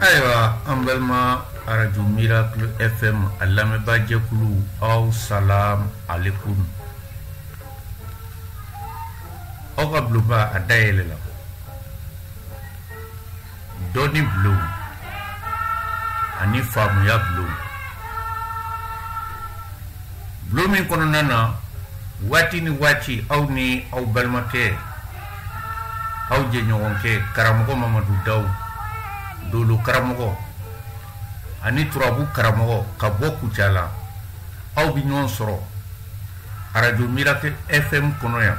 ayiwa an balima arajo miracle fm a lamɛnbaajɛkulu aw salam alekum aw ka bulonba a dayɛlɛla dɔnni bulon ani faamuya bulon bulon min kɔnɔna na waati ni waati aw ni aw balimakɛ aw jɛɲɔgɔnkɛ karamɔgɔ mamadu daw dolo karamɔgɔ ani turabu karamɔgɔ ka bɔ kucala aw bɛ ɲɔgɔn sɔrɔ arajo miracle fm kɔnɔ yan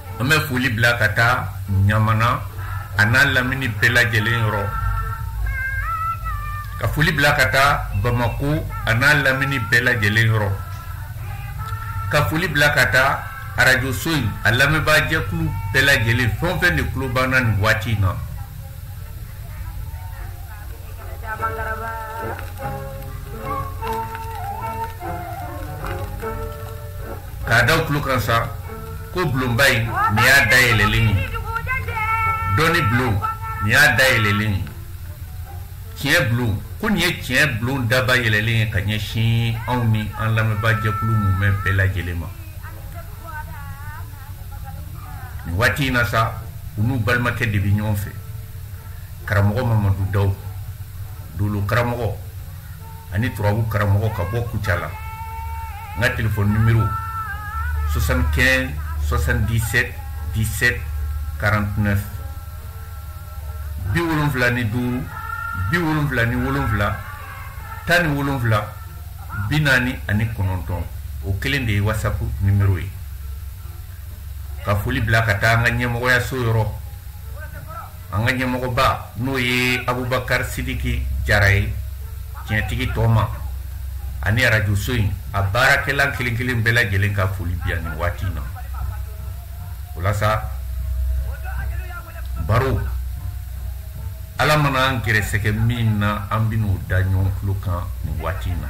An bɛ foli bila ka taa ɲamana a n'a lamini bɛɛ lajɛlen yɔrɔ ka foli bila ka taa bamakɔ a n'a lamini bɛɛ lajɛlen yɔrɔ ka foli bila ka taa arajoso in a lamɛnbaajɛkulu bɛɛ lajɛlen fɛn o fɛn de tulo b'an na nin waati in na K'a da tulo kan sa ko bulonba in nin y'a da yɛlɛlen ye dɔnni bulon nin y'a da yɛlɛlen ye tiɲɛ bulon ko nin ye tiɲɛ bulon daba yɛlɛlen ye ka ɲɛsin anw ni an lamɛnbaa jɛkulu mumɛ bɛɛ lajɛlen ma nin waati in na sa u n'u balimakɛ de bɛ ɲɔgɔn fɛ karamɔgɔ mamadu daw dolo karamɔgɔ ani turabu karamɔgɔ ka bɔ kucala n ka telefɔni nimero 75 77 17 49 bi wolonfila ni duuru bi wolonfila ni wolonfila tan ni wolonfila bi naani ani kɔnɔntɔn o kelen de ye wasapu nimero ye ka foli bila ka taa an ka ɲɛmɔgɔyaso yɔrɔ an ka ɲɛmɔgɔba n'o ye abubakari sidiki jara ye tiɲɛtigi tɔɔma ani arajoso in a baarakɛla kelen kelen bɛɛ lajɛlen ka foli bi yan nin waati na o la sa baro ala mana an gɛrɛsɛgɛ min na an bɛn'o da ɲɔgɔn tulo kan nin waati na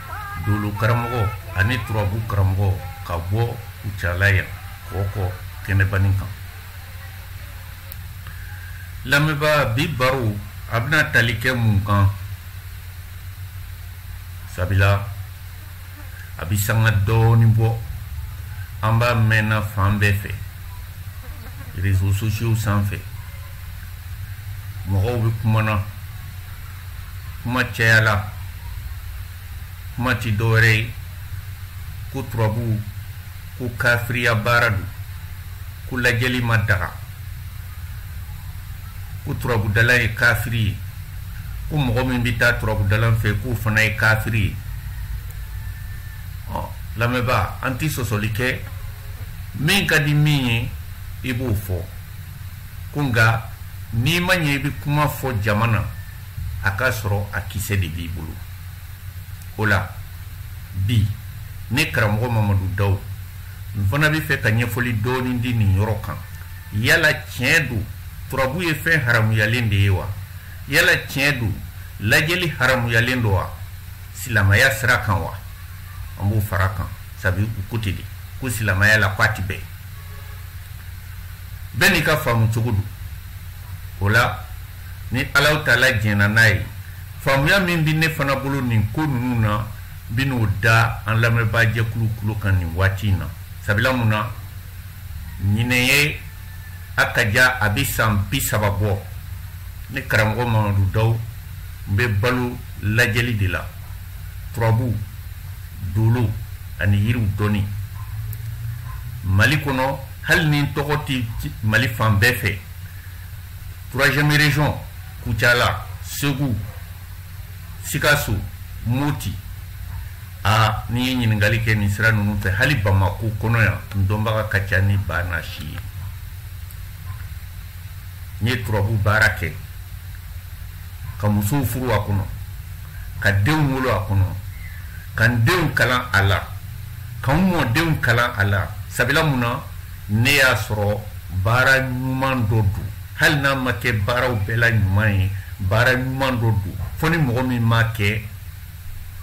dolo karamɔgɔ ani turabu karamɔgɔ ka bɔ kucala yan kɔkɔ kɛnɛbani kan lamɛnbaa bi baro a bɛna tali kɛ mun kan sabila a bi sanga dɔɔnin bɔ an b'a mɛnna fan bɛɛ fɛ réseaux sociaux sanfɛ mɔgɔw bɛ kumana kuma cayala kuma ti dɔwɛrɛ ye ko turabuw ko kafiriya baara don ko lajɛli ma daga ko turabudala ye kafiri ye ko mɔgɔ min bɛ taa turabudalan fɛ k'o fana ye kafiri ye ɔ lamɛnbaa an ti sɔsɔli kɛ min ka di min ye i b'o fɔ ko nka n'i ma ɲɛ i bɛ kuma fɔ jama na a k'a sɔrɔ a kisɛ de b'i bolo o la bi ne karamɔgɔ mamadu daw n fana bɛ fɛ ka ɲɛfɔli dɔɔnin di nin yɔrɔ kan yala tiɲɛ don turabu ye fɛn haramuyalen de ye wa yala tiɲɛ don lajɛli haramuyalen don wa silamaya sira kan wa an b'o fara kan sabu u ko ten de ko silamaya la ko a tɛ bɛn bɛɛ n'i ka faamu cogo don o la ni alahu taala jɛnna n'a ye faamuya min bɛ ne fana bolo nin ko ninnu na bi n'o da an lamɛnbaa jɛkulu tulo kan nin waati in na sabula mun na ɲinɛn ye a ka ja a bɛ san bi saba bɔ ne karamɔgɔ mamadu daw n bɛ balo lajɛli de la turabu dolo ani yiriw dɔnni mali kɔnɔ hali ni n tɔgɔ tɛ mali fan bɛɛ fɛ troisième région kucala segu sikaso moti a n'i ye ɲininkali kɛ nin sira ninnu fɛ hali bamako kɔnɔ yan n dɔnbaga ka ca ni ba na si ye n ye turabu baara kɛ ka musow furu a kɔnɔ ka denw wolo a kɔnɔ ka n denw kalan a la ka n mɔdenw kalan a la sabila mun na ne y'a sɔrɔ baara ɲuman dɔ don hali n'a ma kɛ baaraw bɛɛ la ɲuman ye baara ɲuman dɔ don fo ni mɔgɔ min m'a kɛ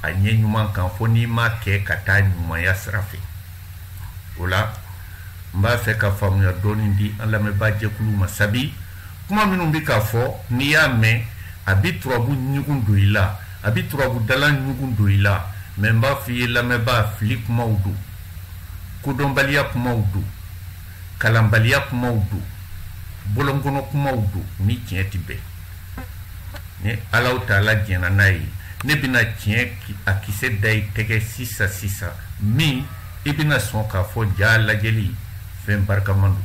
a ɲɛ ɲuman kan fo n'i m'a kɛ ka taa ɲumanya sira fɛ o la n b'a fɛ ka faamuya dɔɔni di an lamɛnbaa jɛkulu ma sabi kuma minnu bɛ ka fɔ n'i y'a mɛn a bɛ turabu ɲugun don i la a bɛ turabu dalan ɲugun don i la mɛ n b'a fɔ i ye lamɛnbaa fili kumaw don kodɔnbaliya kumaw don kalanbaliya kumaw don bɔlɔnkɔnɔ kumaw don ni tiɲɛ tɛ bɛn ni alahu taala jɛnna n'a ye ne bɛna tiɲɛ a kisɛ da i tɛgɛ sisan sisan min i bɛna sɔn k'a fɔ jaa lajɛli fɛn barikaman don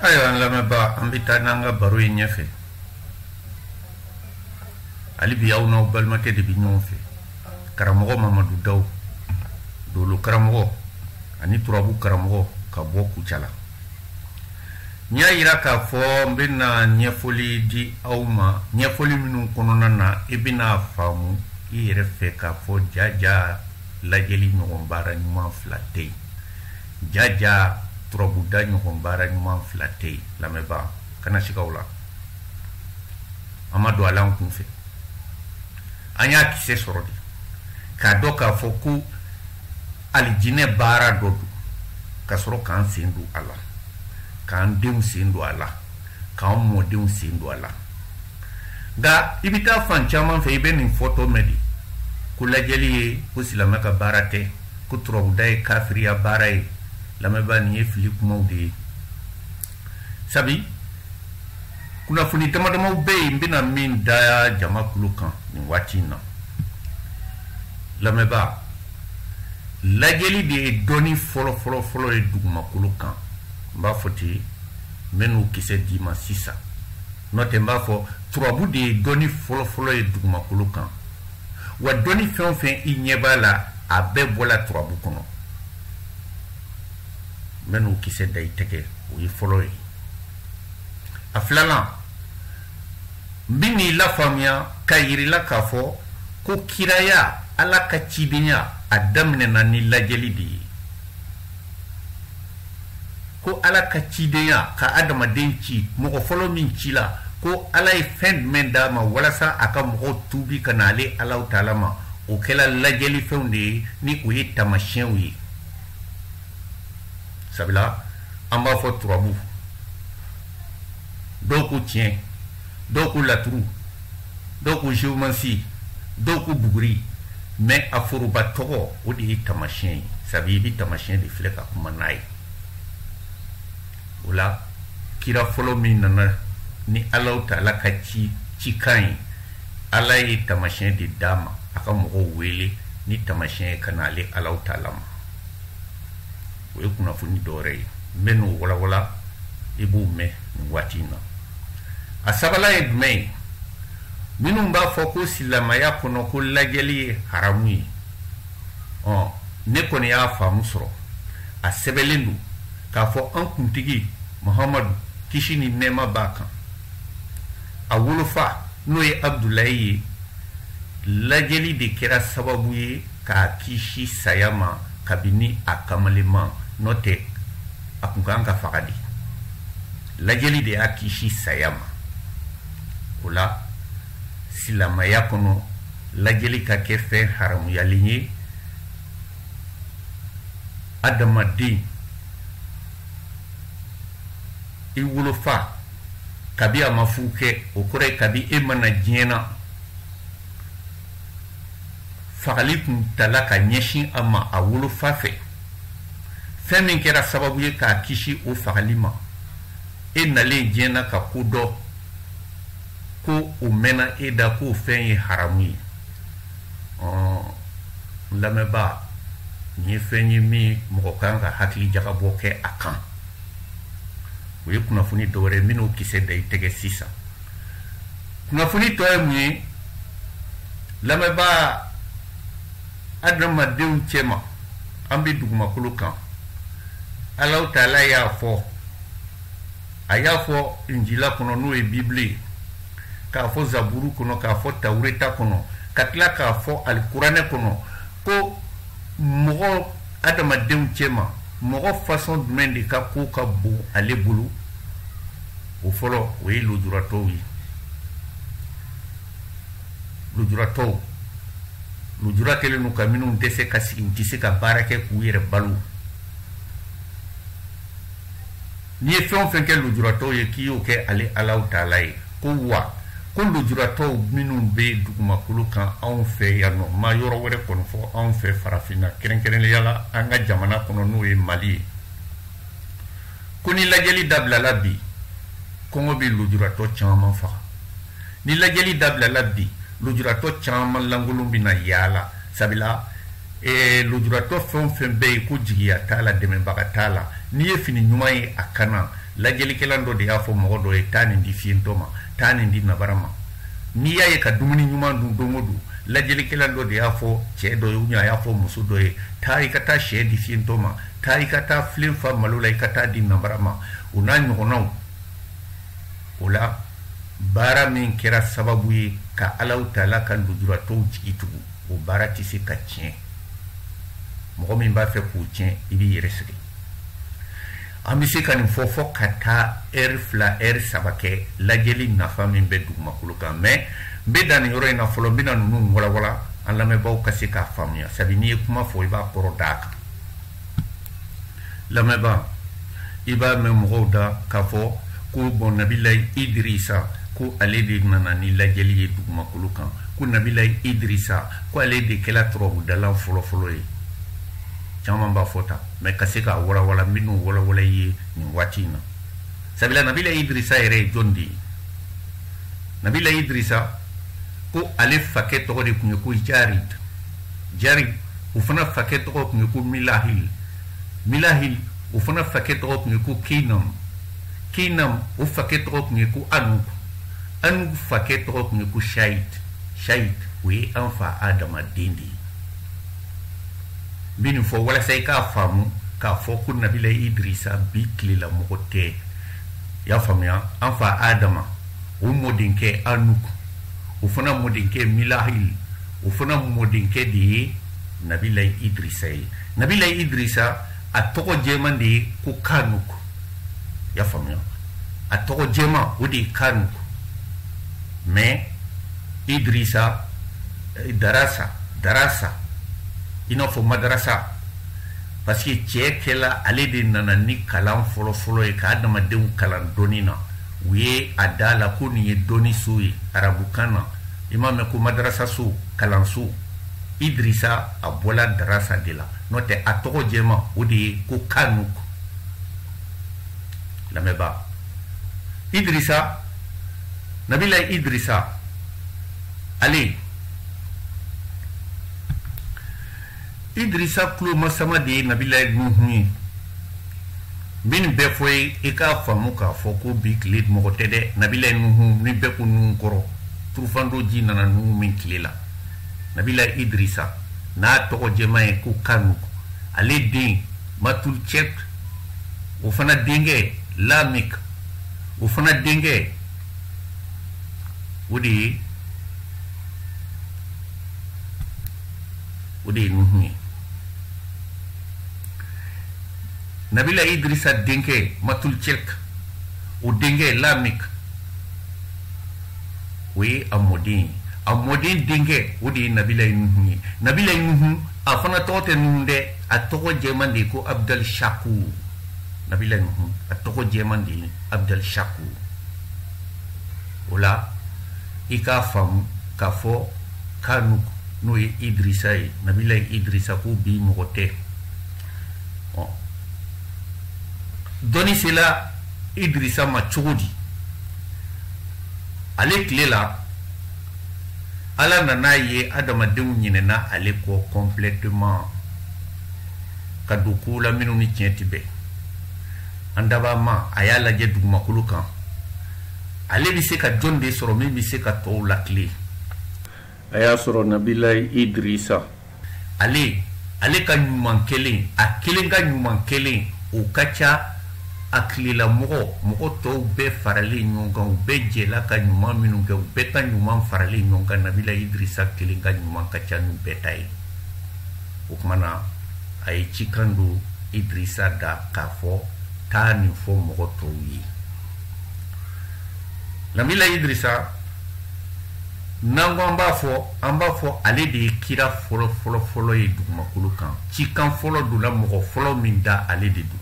Ayiwa an lamɛnbaa an bɛ taa n'an ka baro ye ɲɛfɛ hali bi aw n'aw balimakɛ de bɛ ɲɔgɔn fɛ karamɔgɔ mamadu dawu dolo karamɔgɔ ani turabu karamɔgɔ ka bɔ kucala n y'a yira k'a fɔ n bɛna ɲɛfɔli di aw ma ɲɛfɔli minnu kɔnɔna na i bɛna a faamu i yɛrɛ fɛ k'a fɔ jaja lajɛli ɲɔgɔn baara ɲuman fila tɛ yen jaja turabuda ɲɔgɔn baara ɲuman fila tɛ yen lamɛnbaa kana siga o la an ma don a la an kun fɛ an y'a kisɛ sɔrɔ de k'a dɔn k'a fɔ ko alijinɛ baara dɔ don ka sɔrɔ k'an sen don a la k'an denw sen don a la k'an mɔdenw sen don a la nka i bɛ taa fan caman fɛ i bɛ nin fɔtɔ mɛn de ko lajɛli ye ko silamɛ ka baara tɛ ko turabuda ye kafiriya baara ye lamɛnbaa nin ye fili kumaw de ye sabi kunnafoni damadamaw bɛ yen n bɛna min da jama kulo kan nin waati in na lamɛnbaa lajɛli de ye dɔnni fɔlɔfɔlɔfɔlɔ ye dugumakolo kan n b'a fɔ ten n bɛn'o kisɛ d'i ma sisan n'o tɛ n b'a fɔ turabu de ye dɔnni fɔlɔfɔlɔ ye dugumakolo kan wa dɔnni fɛn o fɛn i ɲɛ b'a la a bɛɛ bɔla turabu kɔnɔ n bɛn'o kisɛ da i tɛgɛ o ye fɔlɔ ye a filanan n bɛn'i lafaamuya k'a yir'i la k'a fɔ ko kiraya ala ka cidenya a daminɛna ni lajɛli de ye ko ala ka cidenya ka adamaden ci mɔgɔ fɔlɔ min ci la ko ala ye fɛn jumɛn d'a ma walasa a ka mɔgɔw tuubi ka na ale alahu taala ma o kɛla lajɛli fɛnw de ye ni o ye taamasiyɛnw ye sabula an b'a fɔ turabu dɔw ko tiɲɛ dɔw ko laturu dɔw ko geomansi dɔw ko buguri mɛ a foroba tɔgɔ o de ye tamasiyɛn ye sabi i bɛ tamasiyɛn de filɛ ka kuma n'a ye o la kira fɔlɔ min nana ni alaw taala ka cikan ye ala ye tamasiyɛn de d'a ma a ka mɔgɔw wele ni tamasiyɛn ye ka na ale alaw taala ma o ye kunnafoni dɔwɛrɛ ye n bɛ n'o walawala i b'o mɛn nin waati in na a sabanan ye jumɛn ye minnu b'a fɔ ko silamaya kɔnɔ ko lajɛli ye haramu ye ɔ ne kɔni y'a faamu sɔrɔ a sɛbɛnlen don k'a fɔ an kuntigi muhamadu kisi ni nɛɛma b'a kan a wolofa n'o ye abudulayi ye lajɛli de kɛra sababu ye k'a kisi saya ma kabini a kamaleman n'o tɛ a kun kan ka faga de lajɛli de y'a kisi saya ma o la silamaya kɔnɔ lajɛli ka kɛ fɛn haramuyalen ye adamaden i wolofa kabi a ma furu kɛ o kɔrɔ ye kabi e ma na diɲɛ na fagali tun tala ka ɲɛsin a ma a wolofa fɛ fɛn min kɛra sababu ye k'a kisi o fagali ma e nalen diɲɛ na ka ko dɔn ko o mɛnna e da k'o fɛn ye haramu ye n lamɛnbaa nin ye fɛn ye min mɔgɔ kan ka hakili jagabɔ kɛ a kan o ye kunnafoni dɔwɛrɛ ye n bɛ n'o kisɛ da i tɛgɛ sisan kunnafoni tɔ ye mun ye lamɛnbaa adamadenw cɛma an bɛ dugumakolo kan alaw taala y'a fɔ a y'a fɔ injila kɔnɔ n'o ye bibili ye k'a fɔ zaburu kɔnɔ k'a fɔ tawureta kɔnɔ ka tila k'a fɔ alikuranɛ kɔnɔ ko mɔgɔ adamadenw cɛma mɔgɔ fasɔn jumɛn de ka ko ka bon ale bolo o fɔlɔ o ye lujuratɔw ye lujuratɔw lujura kɛlen don ka minnu tɛ se ka sigi u tɛ se ka baara kɛ k'u yɛrɛ balo n'i ye fɛn o fɛn kɛ lujuratɔw ye k'i y'o kɛ ale alaw taala ye ko wa ko lujuratɔw minnu bɛ dugumakolo kan anw fɛ yan nɔ n ma yɔrɔ wɛrɛ kɔni fɔ anw fɛ farafinna kɛrɛnkɛrɛnnenya la an ka jamana kɔnɔ n'o ye mali ye ko ni lajɛli dabilala bi kɔngɔ bɛ lujuratɔ caman faga ni lajɛli dabilala bi lujuratɔ caman lankolon bɛ na yaala sabila eh, lujuratɔ fɛn o fɛn bɛ yen ko jigiya t'a la dɛmɛbaga t'a la n'i ye fini ɲuman ye a kan na lajɛlikɛla dɔ de y'a fɔ mɔgɔ dɔ ye taa nin di fiyentɔ ma taa nin di nabara ma n'i y'a ye ka dumuni ɲuman dun don o don lajɛlikɛla dɔ de y'a fɔ cɛ dɔ ye ou bien a y'a fɔ muso dɔ ye taa i ka taa sɛ di fiyentɔ ma taa i ka taa filen fa malo la i ka taa di nanbara ma o n'a ɲɔgɔnnaw o la baara min kɛra sababu ye ka alaw tala ka lujuratɔw jigi tugu o baara tɛ se ka tiɲɛ mɔgɔ min b'a fɛ k'o tiɲɛ i b'i yɛrɛ sɛgɛn an bɛ se ka nin fɔ fɔ ka taa ɛri fila ɛri saba kɛ lajɛli nafa min bɛ dugumakolo kan mais n bɛ dan nin yɔrɔ in na fɔlɔ n bɛna ninnu walawala an lamɛnbaaw ka se k'a faamuya sabu n'i ye kuma fɔ i b'a kɔrɔ d'a kan lamɛnbaa i b'a mɛn mɔgɔw da k'a fɔ ko bon nabilayi idirisa ko ale de nana ni lajɛli ye dugumakolo kan ko nabilayi idirisa ko ale de kɛla turabudala fɔlɔfɔlɔ ye caman b'a fɔ tan mais ka se k'a walawala n bɛn'o walawala i ye nin waati in na sabula nabilayi idirisa yɛrɛ ye jɔn de ye nabilayi idirisa ko ale fakɛ tɔgɔ de tun ye ko jarid jarid o fana fakɛ tɔgɔ tun ye ko milahil milahil o fana fakɛ tɔgɔ tun ye ko keinam keinam o fakɛ tɔgɔ tun ye ko anuk anuk fakɛ tɔgɔ tun ye ko shait shait o ye an fa adama den de ye n bɛ nin fɔ walasa i k'a faamu k'a fɔ ko nabila idrisa bi tilela mɔgɔ tɛ i y'a faamuya an fa adama o mɔdenkɛ anuk o fana mɔdenkɛ milahil o fana mɔdenkɛ de ye nabilayi idrisa ye nabilayi idrisa a tɔgɔ jɛman de ye ko kanuk i y'a faamuya a tɔgɔ jɛman o de ye kanuk mais idrisa eh, darasa darasa i n'a fɔ madarasa parce que cɛ kɛla ale de nana ni kalan fɔlɔfɔlɔ ye ka adamadenw kalan dɔnni na u ye a da la ko nin ye dɔnni so ye arabukan na i m'a mɛn ko madarasa so kalanso idirisa a bɔla darasa de la n'o tɛ a tɔgɔ jɛma o de ye ko kanuk lamɛnbaa idirisa nabilayi idirisa ale idirisa tulomasama de ye nabilayi nuhun ye min bɛɛ fɔ ye i k'a faamu k'a fɔ ko bi tile mɔgɔ tɛ dɛ nabilayi nuhun ni bɛɛ ko nuhun kɔrɔ turufan don ji nana nuhun min tile la nabilayi idirisa n'a tɔgɔ jɛman ye ko kanuk ale den matulcɛk o fana denkɛ lamik o fana denkɛ o de ye o de ye nuhun ye nabila idrisa denkɛ matulcɛk o denkɛ lamik o ye a mɔden ye a mɔden denkɛ o de ye nabilayi nuhun ye nabilayi nuhun a fana tɔgɔ tɛ nuhun dɛ a tɔgɔ jɛman de ye ko abudali shakur nabila nuhun a tɔgɔ jɛman de ye abudali shakur o la i k'a faamu k'a fɔ kanuk n'o ye idirisa ye nabilayi idirisa ko bi mɔgɔ tɛ dɔnni sela idirisa ma cogo di ale tile la ala nan'a ye adamadenw ɲinɛna ale kɔ kɔnplɛteman ka don kow la minnu ni tiɲɛ tɛ bɛn an dabaa ma a y'a lajɛ dugumakolo kan ale bɛ se ka jɔn de sɔrɔ min bɛ se ka tɔw latilen a y'a sɔrɔ nabila idirisa ale ale ka ɲuman kelen a kelen ka ɲuman kelen o ka ca a tilela mɔgɔ mɔgɔ tɔw bɛɛ faralen ɲɔgɔn kan u bɛɛ jɛla ka ɲuman minnu kɛ u bɛɛ ka ɲuman faralen ɲɔgɔn kan nabila idirisa kelen ka ɲuman ka ca n'u bɛɛ ta ye o kuma na a ye cikan don idirisa da k'a fɔ taa nin fɔ mɔgɔ tɔw ye nabila idrisa n'an ko an b'a fɔ an b'a fɔ ale de ye kira fɔlɔ fɔlɔ fɔlɔ ye dugumakolo kan cikan fɔlɔ donna mɔgɔ fɔlɔ min da ale de don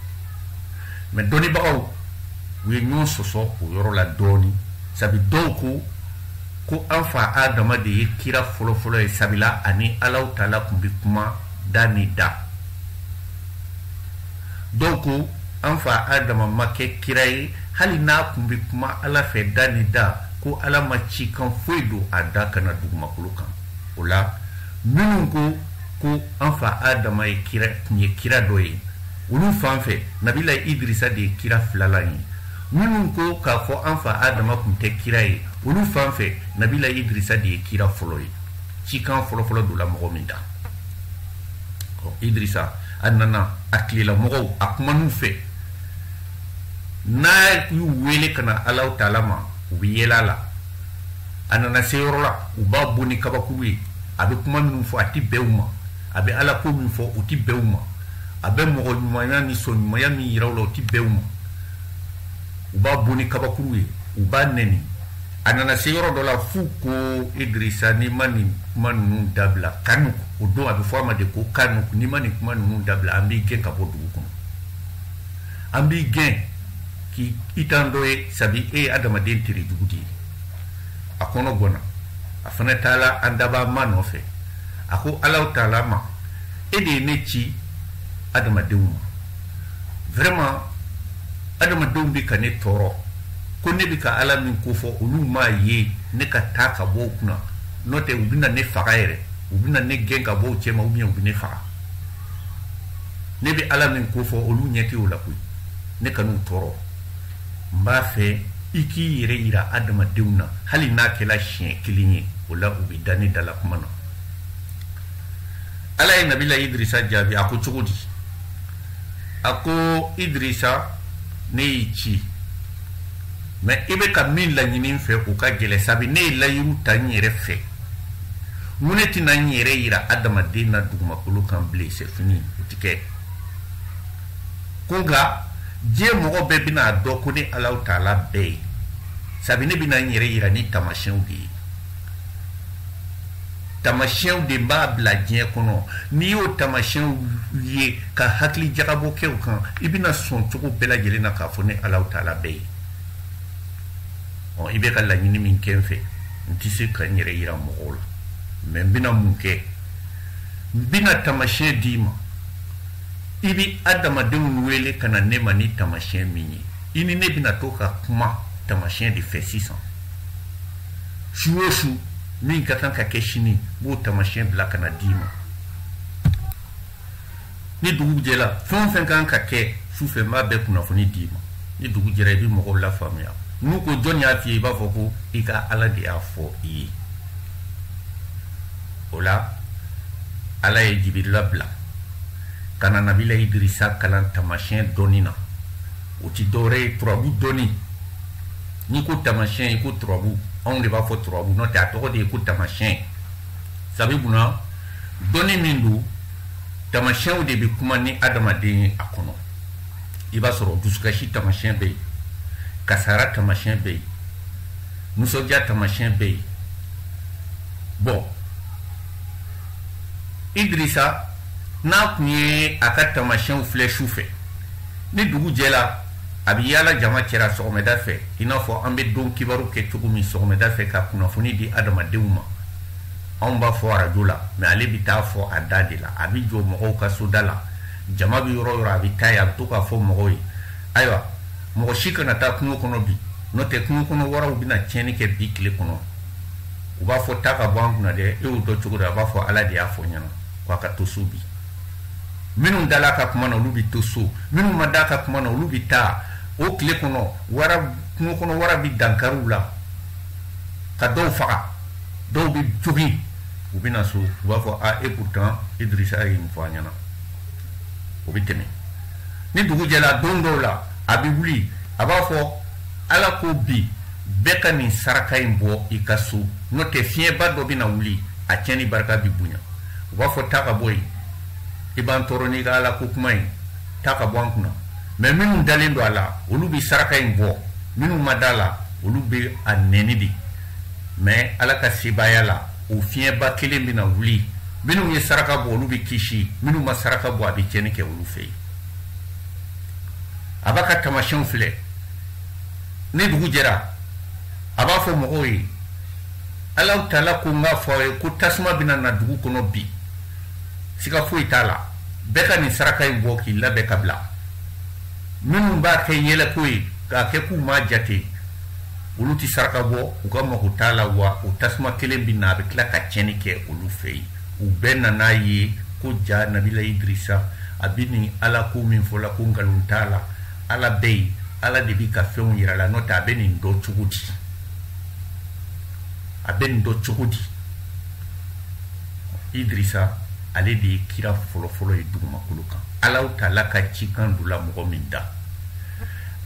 mɛ dɔnnibagaw u ye ɲɔgɔn sɔsɔ o yɔrɔ la dɔɔni sabi dɔw ko ko an fa adama de ye kira fɔlɔ fɔlɔ ye sabila a ni alahu taala kun bɛ kuma da ni da Dɔw ko an fa Adama ma kɛ kira ye hali n'a kun bɛ kuma Ala fɛ da ni da, ko Ala ma cikan foyi don a da ka na dugumakolo kan. O la, minnu ko ko an fa Adama ye kira, kun ye kira dɔ ye, olu fan fɛ, Nabila Idirisa de ye kira filalan ye. Minnu ko k'a fɔ an fa Adama kun tɛ kira ye, olu fan fɛ, Nabila Idirisa de ye kira fɔlɔ ye. Cikan fɔlɔfɔlɔ donna mɔgɔ min da idrisa a nana a tile la mɔgɔw a kuman'u fɛ n'a y'u wele ka na alahu taala ma u bɛ yɛlɛ a la a nana se yɔrɔ la u b'a bon ni kabakuru ye a bɛ kuma minnu fɔ a tɛ bɛn u ma a bɛ ala ko min fɔ o tɛ bɛn u ma a bɛ mɔgɔ ɲumanya ni sɔn ɲumanya min yira u la o tɛ bɛn u ma u b'a bon ni kabakuru ye u b'a nɛni a nana se yɔrɔ dɔ la f'u ko idirisa n'i ma nin kuma ninnu dabila kanuk o don a bɛ fɔ a ma de ko kanuk n'i ma nin kuma ninnu dabila an b'i gɛn ka bɔ dugu kɔnɔ an b'i gɛn k'i t'an dɔ ye sabi e ye adamaden tere jugu de ye a kɔnɔ gɔnna a fana taala an dabaa ma nɔfɛ a ko alahu taala ma e de ye ne ci adamadenw ma vraiment adamadenw bɛ ka ne tɔɔrɔ ko ne bɛ ka ala min ko fɔ olu m'a ye ne ka taa ka bɔ u kunna n'o tɛ u bɛna ne faga yɛrɛ u bɛna ne gɛn ka bɔ u cɛma ou bien u bɛ ne faga ne bɛ ala min ko fɔ olu ɲɛ tɛ o la koyi ne kan'u tɔɔrɔ n b'a fɛ i k'i yɛrɛ yira adamadenw na hali n'a kɛla siɲɛ kelen ye o la u bɛ da ne dalakuma na ala ye nabila idirisa jaabi a ko cogo di a ko idirisa ne y'i ci mais i bɛ ka min laɲini n fɛ o ka gɛlɛn sabi ne ye layiru ta n yɛrɛ fɛ mun ne tɛna n yɛrɛ yira adamaden na dugumakolo kan bilen c'est fini o ti kɛ ko nka diɲɛ mɔgɔ bɛɛ bɛna a dɔn ko ne alahu taala bɛ yen sabi ne bɛna n yɛrɛ yira ni taamasiyɛnw de ye tamasiyɛnw de n b'a bila diɲɛ kɔnɔ n'i y'o tamasiyɛnw ye ka hakili jagabɔ kɛ u kan i bɛna sɔn cogo bɛɛ lajɛlen na k'a fɔ ne alahu taala bɛ yen ɔ i bɛ ka laɲini min kɛ n fɛ n tɛ se ka n yɛrɛ yira mɔgɔw la mais n bɛna mun kɛ n bɛna tamasiyɛn d'i ma i bɛ adamadenw wele ka na ne ma ni tamasiyɛn min ye i ni ne bɛna to ka kuma tamasiyɛn de fɛ sisan su o su min ka kan ka kɛ sini n b'o tamasiyɛn bila ka na d'i ma ni dugu jɛra fɛn o fɛn ka kan ka kɛ su fɛ n b'a bɛɛ kunnafoni d'i ma ni dugu jɛra i bɛ mɔgɔw lafaamuya n'u ko jɔn y'a f'i ye i b'a fɔ ko i ka ala de y'a fɔ i ye o la ala ye jibirila bila ka na nabila idirisa kalan tamasiyɛn dɔnni na o ti dɔwɛrɛ ye turabu dɔnni n'i ko tamasiyɛn i ko turabu anw de b'a fɔ turabu n'o tɛ a tɔgɔ de ye ko tamasiyɛn sabi munna dɔnni min don tamasiyɛnw de bɛ kuma ni adamaden ye a kɔnɔ i b'a sɔrɔ dusukasi tamasiyɛn bɛ yen kasara tamasiyɛn bɛ yen nisɔndiya tamasiyɛn bɛ yen bon idirisa n'a kun ye a ka tamasiyɛnw filɛ su fɛ ni dugu jɛra a bɛ yaala jama cɛra sɔgɔmɛda fɛ i n'a fɔ an bɛ don kibaru kɛ cogo min sɔgɔmɛda fɛ ka kunnafoni di adamadenw ma anw b'a fɔ arajo la mais ale bɛ taa fɔ a da de la a bɛ jɔ mɔgɔw ka soda la jama bɛ yɔrɔ o yɔrɔ a bɛ taa yen a bɛ to k'a fɔ mɔgɔw ye ayiwa mɔgɔ si kana taa kungo kɔnɔ bi n'o tɛ kungo kɔnɔ waraw bɛna tiɲɛni kɛ bi tile kɔnɔ u b'a fɔ taa ka bɔ an kunna dɛ e y'o dɔn cogo di a b'a fɔ ala de y'a fɔ n ɲɛna k'a ka to so bi minnu dala ka kuma na olu bɛ to so minnu ma da ka kuma na olu bɛ taa o tile kɔnɔ wara kungo kɔnɔ wara bɛ dankariw la ka dɔw faga dɔw bɛ jogin u bɛ na so u b'a fɔ a et pourtant Idrissa ye nin fɔ an ɲɛna o bɛ tɛmɛ ni dugu jɛra don dɔw la a bɛ wuli a b'a fɔ ala ko bi bɛɛ ka nin saraka in bɔ i ka so n'o tɛ fiɲɛba dɔ bɛna wuli a tiɲɛni barika bɛ bonya u b'a fɔ taa ka bɔ yen i b'an tɔɔrɔ n'i ka ala ko kuma ye taa ka bɔ an kunna mais minnu dalen don a la olu bɛ saraka in bɔ minnu ma da la olu bɛ a nɛni de mais ala ka sebaaya la o fiɲɛba kelen bɛna wuli minnu ye saraka bɔ olu bɛ kisi minnu ma saraka bɔ a bɛ tiɲɛni kɛ olu fɛ yen a b'a ka tamasiyɛnw filɛ ni dugu jɛra a b'a fɔ mɔgɔw ye alahu taala ko n k'a fɔ aw ye ko tasuma bɛna na dugu kɔnɔ bi siga foyi t'a la bɛɛ ka nin saraka in bɔ k'i labɛn ka bila minnu b'a kɛ yɛlɛko ye k'a kɛ k'u m'a jate olu tɛ saraka bɔ u ka mago t'a la wa o tasuma kelen bɛ na a bɛ tila ka tiɲɛni kɛ olu fɛ yen u bɛɛ nan'a ye ko jaa nabila idirisa a bɛ nin ala ko min fɔ la ko nkalon t'a la ala bɛ yen ala de bi ka fɛnw yira la n'o tɛ a bɛ nin dɔn cogo di a bɛ nin dɔn cogo di idirisa ale de ye kira fɔlɔfɔlɔ ye dugumakolo kan alahu taala ka cikan donna mɔgɔ min da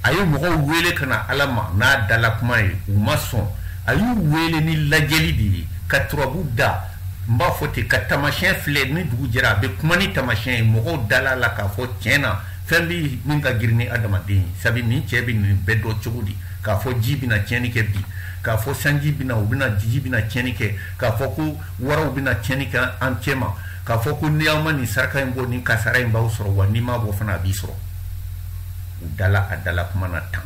a ye mɔgɔw wele ka na ala ma n'a dala kuma ye u ma sɔn a y'u wele ni lajɛli de ye ka turabu da n b'a fɔ ten ka tamasiyɛn filɛ ni dugu jɛra a bɛ kuma ni tamasiyɛn ye mɔgɔw dala a la k'a fɔ tiɲɛ na fɛn bi min ka girin ni adamaden ye sabi nin cɛ bɛ nin bɛɛ dɔn cogo di k'a fɔ ji bɛna tiɲɛni kɛ bi k'a fɔ sanji bɛna u bɛna ji ji bɛna tiɲɛni kɛ k'a fɔ ko waraw bɛna tiɲɛni kɛ an cɛ ma k'a fɔ ko ni aw ma nin saraka in bɔ nin kasara in b'aw sɔrɔ wa n'i m'a bɔ fana a b'i sɔrɔ u dala a dala kuma na tan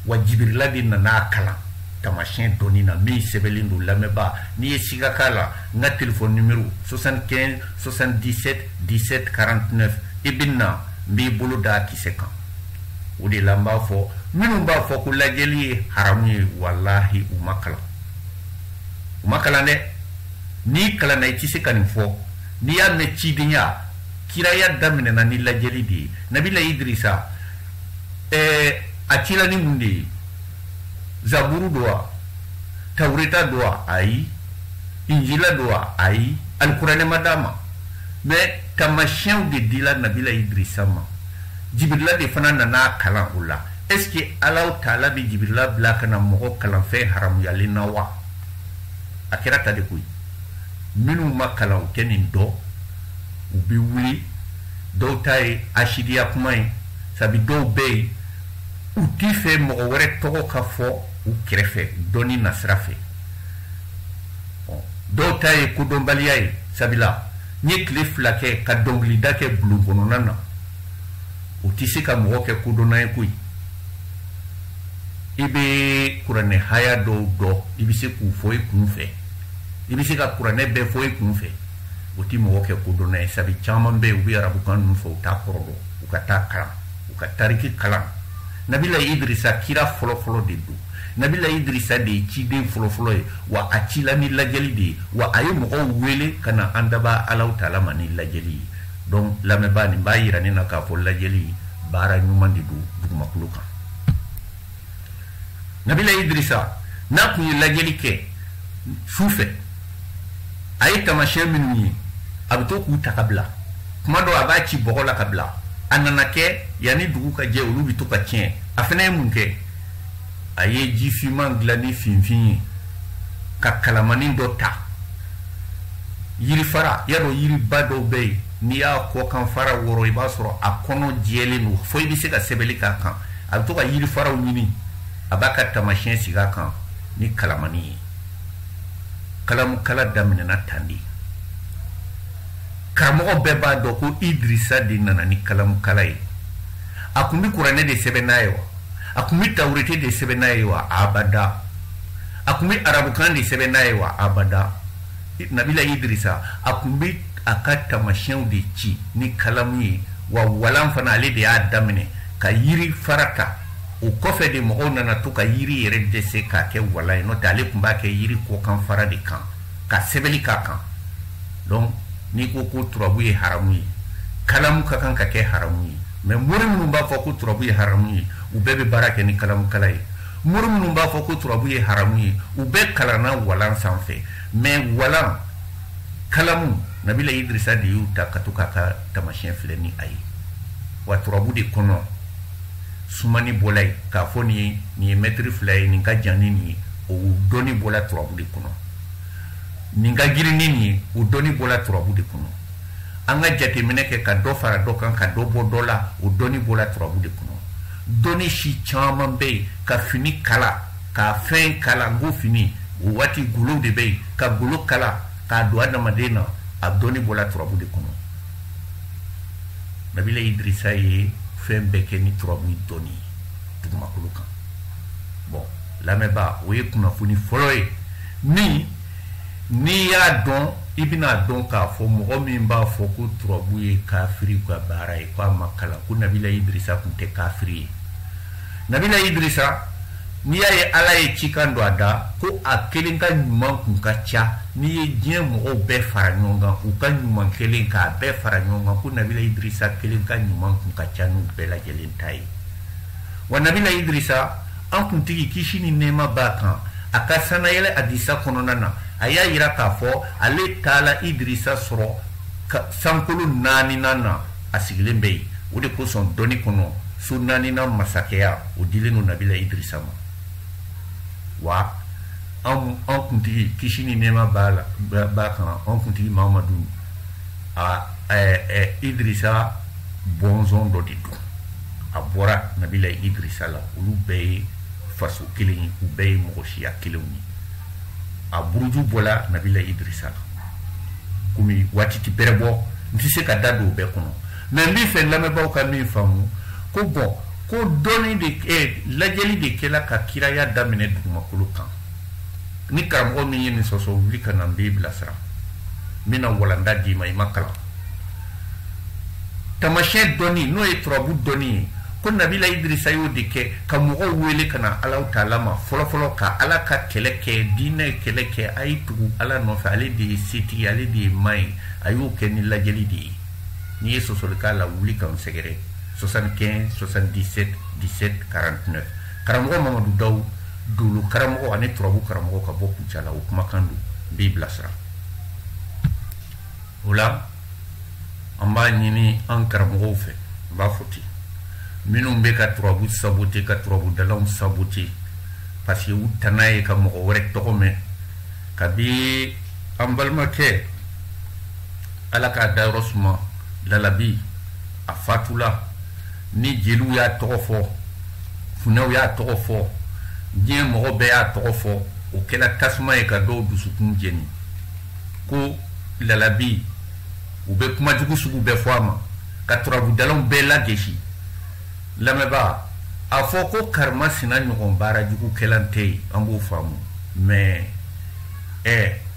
wa jibirila de nana a kalan tamasiyɛn dɔnni na min sɛbɛnlen don lamɛnbaa n'i ye siga k'a la n ka telefɔni nimero 75 77 17 49 i bɛ na n b'i bolo da a kisɛ kan o de la n b'a fɔ minnu b'a fɔ ko lajɛli ye haramu ye walahi u ma kalan u ma kalan dɛ n'i kalanna i tɛ se ka nin fɔ n'i y'a mɛn cidenya kiraya daminɛna ni lajɛli de ye nabila idirisa ɛɛ a cila ni mun de ye zaburu don wa tawureta don wa ayi injila don wa ayi alikuranɛ ma d'a ma mais tamasiyɛnw de dila nabila idirisa ma jibirila de fana nana a kalan o la est ce que alaw taala bɛ jibirila bila ka na mɔgɔ kalan fɛn haramuyalen na wa a kɛra tan de koyi minnu ma kalan u tɛ nin dɔn u bɛ wuli dɔw ta ye asidiya kuma ye sabi dɔw bɛ yen U t'a fɛ mɔgɔ wɛrɛ tɔgɔ ka fɔ u kɛrɛfɛ dɔnni nasira fɛ dɔw ta ye kodɔnbaliya ye sabila n'i ye tile fila kɛ ka dɔnkilida kɛ bulon kɔnɔna na o tɛ se ka mɔgɔ kɛ kodɔnna ye koyi i bɛ kuranɛ haya dɔw dɔn i bɛ se k'u fɔ i kun fɛ i bɛ se ka kuranɛ bɛɛ fɔ i kun fɛ o tɛ mɔgɔ kɛ kodɔnna ye sabu caman bɛ yen u bɛ arabukan ninnu fɔ u t'a kɔrɔ dɔn u ka taa kalan u ka tariki kalan nabila idrisa kira fɔlɔfɔlɔ de don nabila idrisa de ye ciden fɔlɔfɔlɔ ye wa a cila ni lajɛli de ye wa a ye mɔgɔw wele ka na an dabaa alaw taala ma ni lajɛli ye donc lamɛnbaa nin b'a yira ne na k'a fɔ lajɛli baara ɲuman de don dugumakolo kan nabila idrisa n'a tun ye lajɛli kɛ su fɛ a ye tamasiyɛn minnu ye a bɛ to k'u ta ka bila kuma dɔ a b'a ci bɔgɔ la ka bila a nana kɛ yanni dugu ka jɛ olu bɛ to ka tiɲɛ a fana ye mun kɛ a ye ji finman dilan ni finfin ye ka kalamanin dɔ ta yirifara y'a dɔn yiriba dɔw bɛ yen n'i y'a kɔkan fara wɔrɔ i b'a sɔrɔ a kɔnɔ jɛlen don fo i bɛ se ka sɛbɛnni k'a kan a bɛ to ka yirifaraw ɲini a b'a ka tamasiyɛn sigi a kan ni kalamani ye kalamukala daminɛna tan de karamɔgɔ bɛɛ b'a dɔn ko idirisa de nana ni kalamukala ye a tun bɛ kuranɛ de sɛbɛn n'a ye wa a tun bɛ tawurete de sɛbɛn n'a ye wa abada a tun bɛ arabukan de sɛbɛn n'a ye wa abada nabila idrisa a kun bɛ a ka tamasiyɛnw de ci ni kalamu ye wa walan fana ale de y'a daminɛ ka yiri fara ta o kɔfɛ de mɔgɔw nana to ka yiri yɛrɛ dɛsɛ k'a kɛ walan ye n'o tɛ ale kun b'a kɛ yiri kɔkan fara de kan ka sɛbɛnni k'a kan donc n'i ko ko turabu ye haramu ye kalamu ka kan ka kɛ haramu ye mɛ mori minnu b'a fɔ ko turabu ye haramu ye u bɛɛ bɛ baara kɛ ni kalamukala ye mori minnu b'a fɔ ko turabu ye haramu ye u bɛɛ kalanna walan sanfɛ mɛ walan kalamu nabila idrisa de y'u ta ka to k'a ka tamasiyɛn filɛ ni a ye wa turabu de kɔnɔ sumani bɔla yen k'a fɔ nin ye nin ye mɛtiri fila ye nin ka jan ni nin ye o dɔnni bɔla turabu de kɔnɔ nin ka girin ni nin ye o dɔnni bɔla turabu de kɔnɔ an ka jateminɛ kɛ ka dɔ fara dɔ kan ka dɔ bɔ dɔ la o dɔnni bɔla turabu de kɔnɔ dɔnni si caman bɛ yen ka fini kala ka fɛn kala n ko fini o waati golow de bɛ yen ka golo kala k'a don adamaden na a dɔnni bɔla turabu de kɔnɔ nabila idrisa ye fɛn bɛɛ kɛ ni turabu dɔnni ye dugumakolo kan bɔn lamɛnbaa o ye kunnafoni fɔlɔ ye min n'i y'a dɔn i bɛn'a dɔn k'a fɔ mɔgɔ min b'a fɔ ko turabu ye kafiri ka baara ye k'a ma kalan ko nabila idrisa kun tɛ kafiri ye nabila idrisa n'i y'a ye ala ye cikan don a da ko a kelen ka ɲuman kun ka ca n'i ye diɲɛ mɔgɔw bɛɛ fara ɲɔgɔn kan u ka ɲuman kɛlen k'a bɛɛ fara ɲɔgɔn kan ko nabila idrisa kelen ka ɲuman kun ka ca n'u bɛɛ lajɛlen ta ye wa nabila idrisa an kuntigi kisi ni nɛɛma b'a kan a ka sannayɛlɛ adisa kɔnɔna na a y'a yira k'a fɔ ale taala idrisa sɔrɔ sankolo naaninan na a sigilen bɛ yen o de kosɔn dɔnni kɔnɔ so naaninan masakɛya o dilen don nabila idrisa ma wa an an kuntigi kisi ni nɛɛma b'a la b'a kan an kuntigi mamadu a idrisa bɔnsɔn dɔ de don a bɔra nabila idrisa la olu bɛɛ ye faso kelen ye u bɛɛ ye mɔgɔ siya kelenw ye a buruju bɔla nabila idrisa la komi waati tɛ bɛrɛ bɔ n tɛ se ka da don o bɛɛ kɔnɔ mɛ n b'a fɛ lamɛnbaaw ka min faamu ko bɔn ko dɔnni de eh, lajɛli de kɛla ka kiraya daminɛ dugumakolo kan ni karamɔgɔ min ye nin sɔsɔ wuli ka na n b'i bilasira n bɛna walanda d'i ma i ma kalan tamasiyɛn dɔnni n'o ye turabu dɔnni ye ko nabila idirisa y'o de kɛ ka mɔgɔw wele ka na alaw taala ma fɔlɔfɔlɔ ka ala ka kɛlɛ kɛ diinɛ kɛlɛ kɛ a ye tugu ala nɔfɛ ale de ye setigi ale de ye ma ye a y'o kɛ ni lajɛli de ye n'i ye sɔsɔli k'a la wuli k'an sɛgɛrɛ 75 77 17 49 karamɔgɔ mamadu daw dolo karamɔgɔ ani turabu karamɔgɔ ka bɔ kucala o kumakan don n b'i bilasira o la an b'a ɲini an karamɔgɔw fɛ n b'a fɔ ten minnu bɛ ka turabu sabote ka turabudalaw sabote parce que u tana ye ka mɔgɔ wɛrɛ tɔgɔ mɛn kabi an balimakɛ ala k'a dayɔrɔ suma lalabi a fatula ni jeliw y'a tɔgɔ fɔ funɛw y'a tɔgɔ fɔ diɲɛ mɔgɔ bɛɛ y'a tɔgɔ fɔ o kɛla tasuma ye ka dɔw dusukun jeni ko lalabi u bɛ kuma jugu sugu bɛɛ fɔ a ma ka turabudalaw bɛɛ lagesi lamɛnbaa a fɔ ko karimasina ɲɔgɔn baara jugu kɛla tɛ yen an b'o faamu mais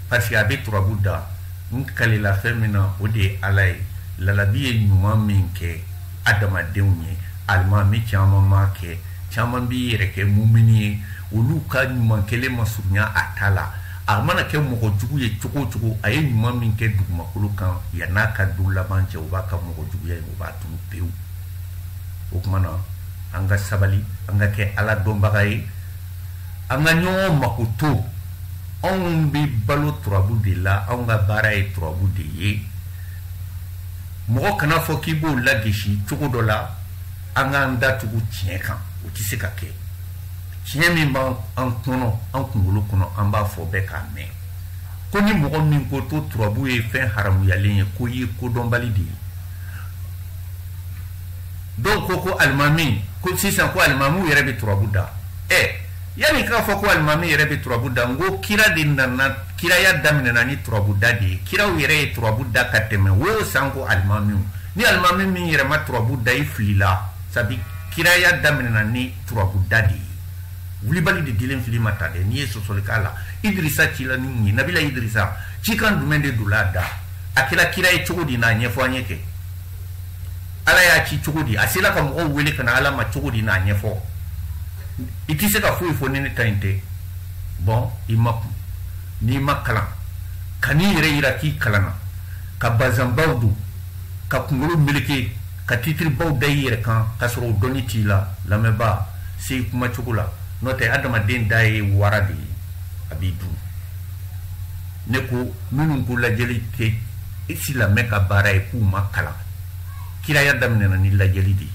parce que a bɛ turabu da n kalila fɛn min na o de ye ala ye lalabi ye ɲuman min kɛ adamadenw ye alimami caman m'a kɛ caman b'i yɛrɛ kɛ mumini ye olu ka ɲuman kelen ma surunya a ta la a mana kɛ mɔgɔ jugu ye cogo o cogo a ye ɲuman min kɛ dugumakolo kan yan n'a ka don laban cɛ o b'a ka mɔgɔ juguya ye o b'a tunu pewu o tuma na an ka sabali an ka kɛ ala dɔnbaga ye an ka ɲɔgɔn makoto anw bɛ balo turabu de la anw ka baara ye turabu de ye mɔgɔ kana fɔ k'i b'o lagesi cogo dɔ la an k'an datugu tiɲɛ kan o tɛ se ka kɛ tiɲɛ min b'an kɔnɔ an kunkolo kɔnɔ an b'a fɔ bɛɛ k'a mɛn ko ni mɔgɔ min ko to turabu ye fɛn haramuyalen ye k'o ye kodɔnbali de ye dɔw ko ko alimami ko sisan ko alimamiw yɛrɛ bɛ turabu da ɛ yanni k'a fɔ ko alimami yɛrɛ bɛ turabu da n ko kira de nana kiraya daminɛna ni turabu da de ye kiraw yɛrɛ ye turabu da ka tɛmɛ wo sanko alimamiw ni alimami min yɛrɛ ma turabu da i filila sabi kiraya daminɛna ni turabu da de ye wulibali de dilen fili ma ta dɛ n'i ye sɔsɔli k'a la idirisa cila ni mun ye nabila idirisa cikan jumɛn de don a da a kɛra kira ye cogo di n'a ɲɛfɔ an ye kɛ ala y'a ci cogo di a sela ka mɔgɔw wele ka na ala ma cogo di n'a ɲɛfɔ i tɛ se ka foyi fɔ ni ne ta in tɛ bon i makun n'i ma kalan kan'i yɛrɛ yira k'i kalanna ka bazanbaw don ka kungolo meleke ka titiribaw da i yɛrɛ kan k'a sɔrɔ o dɔnni t'i la lamɛnbaa se i kuma cogo la n'o tɛ adamaden da ye wara de ye a b'i dun ne ko minnu ko lajɛli tɛ silamɛ ka baara ye k'u ma kalan kiraya daminɛna ni lajɛli de ye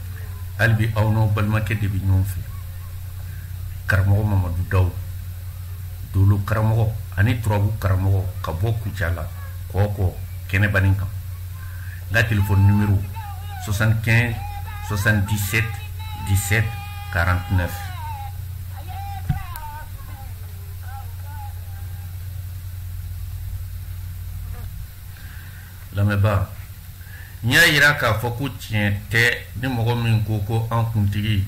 hali bi aw n'aw balimakɛ de bɛ ɲɔgɔn fɛ karamɔgɔ mamadu daw dolo karamɔgɔ ani turabu karamɔgɔ ka bɔ kucala kɔkɔ kɛnɛbanin kan n ka telefɔni nimero 75 77 17 49 lamɛnbaa n y'a yira k'a fɔ ko tiɲɛ tɛ ni mɔgɔ min ko ko an kuntigi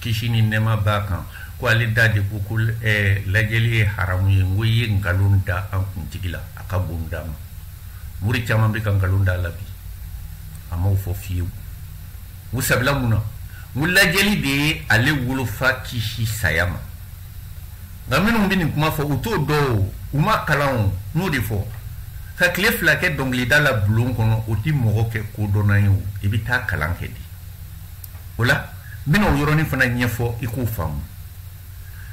kisi ni nɛɛma b'a kan ko ale da de ko ko eh, lajɛli ye haramu ye n ko i ye nkalon da an kuntigi la a ka bon n da ma mori caman bɛ ka nkalon da a la bi a m'o fɔ fiyewu n ko sabula mun na n ko lajɛli de ye ale wolofa kisi saya ma nka minnu bɛ nin kuma fɔ u t'o dɔn o u ma kalan o n y'o de fɔ ka tile fila kɛ dɔnkilida la bulon kɔnɔ o tɛ mɔgɔ kɛ kodɔnna ye o i bɛ taa kalan kɛ de o la n bɛna o yɔrɔnin fana ɲɛfɔ i k'o faamu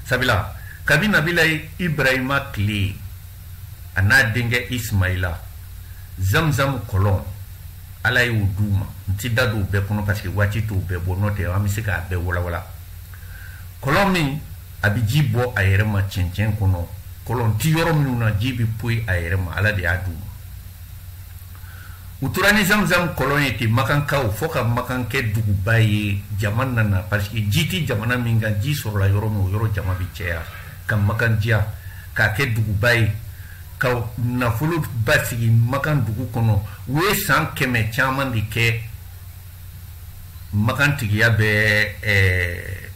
sabula kabi nabila ibrahima tile a n'a denkɛ ismaila zamzam kɔlɔn ala y'o d'u ma n ti da don bɛɛ kɔnɔ parce que waati t'o bɛɛ bɔ n'o tɛ an bɛ se k'a bɛɛ walawala kɔlɔn min a bɛ ji bɔ a yɛrɛ ma cɛncɛn kɔnɔ kɔlɔn ti yɔrɔ minnu na ji bɛ poyi a yɛrɛ ma ala de y'a d'u ma u tora ni zamzam kɔlɔn ye ten makankaw fo ka makan kɛ duguba ye jama nana parce que ji tɛ jamana min kan ji sɔrɔla yɔrɔ min o yɔrɔ jama bɛ cɛya ka makan diya k'a kɛ duguba ye ka nafolo basigi makan dugu kɔnɔ u ye san kɛmɛ caman de kɛ makan tigiya bɛ eh,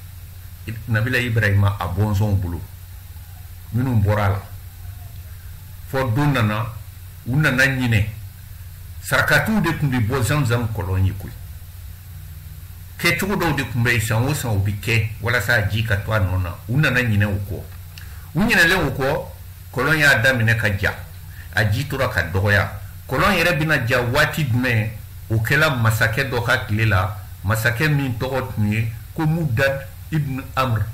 nabila ibrahima a bɔnsɔnw bolo minnu bɔra a la fo don nana u nana ɲinɛ sarakatiw de tun bɛ bɔ zamzam kɔlɔn ye koyi kɛcogo dɔw de tun bɛ yen san o san o bɛ kɛ walasa ji ka to a nɔ na u nana ɲinɛ o kɔ u ɲinɛlen o kɔ kɔlɔn y'a daminɛ ka ja a ji tora ka dɔgɔya kɔlɔn yɛrɛ bɛna ja waati jumɛn o kɛla masakɛ dɔ ka tile la masakɛ min tɔgɔ tun ye ko mudad ibn amr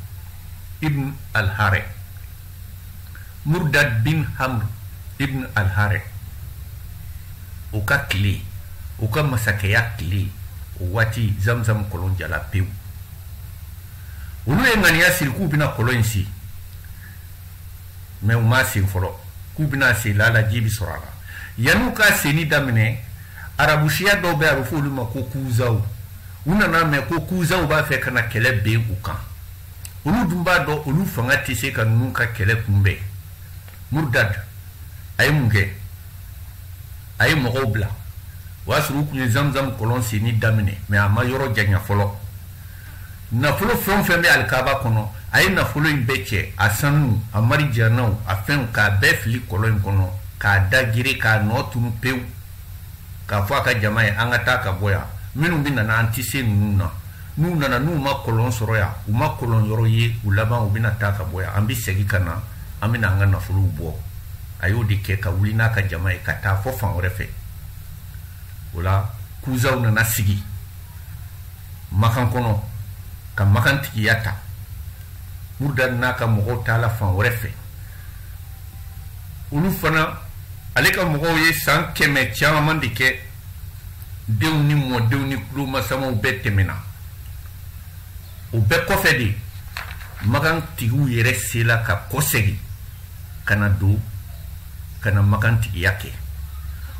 ibn alhare murdad bin amr ibn alhare o ka tile o ka masakɛya tile o waati zamzam kɔlɔn jala pewu olu ye ŋaniya siri k'u bɛna kɔlɔn in sen mɛ u ma sen fɔlɔ k'u bɛna sen lala ji bɛ sɔrɔ a la yanni'u ka senni daminɛ arabusiya dɔw bɛ a bɛ fɔ olu ma ko kuzaw u nan'a mɛn ko kuzaw b'a fɛ ka na kɛlɛ bin u kan olu dun b'a dɔn olu fanga tɛ se ka ninnu ka kɛlɛ kunbɛn murdad a ye mun kɛ a ye mɔgɔw bila o y'a sɔrɔ u tun ye zamzam kɔlɔn senni daminɛ mɛ a ma yɔrɔ janya fɔlɔ nafolo fɛn o fɛn bɛ alikaba kɔnɔ a ye nafolo in bɛɛ cɛ a sanu a marijanaw a fɛnw k'a bɛɛ fili kɔlɔn in kɔnɔ k'a da geren k'a nɔ tunu pewu k'a fɔ a ka jama ye an ka taa ka bɔ yan minnu bɛ nana an tɛ se ninnu na n'u nana n'u ma kɔlɔn sɔrɔ yan u ma kɔlɔn yɔrɔ ye u laban u bɛna taa ka bɔ yan an bɛ segin ka na an bɛna an ka nafolow bɔ a y'o de kɛ ka wuli n'a ka jama ye ka taa fɔ fan wɛrɛ fɛ o la kuzaw nana sigi makan kɔnɔ ka makan tigiya ta murdad n'a ka mɔgɔw taala fan wɛrɛ fɛ olu fana ale ka mɔgɔw ye san kɛmɛ caman de kɛ denw ni mɔdenw ni tulomasamaw bɛɛ tɛmɛna o bɛɛ kɔfɛ de makan tigiw yɛrɛ sela ka kɔsegin ka na don ka na makan tigiya kɛ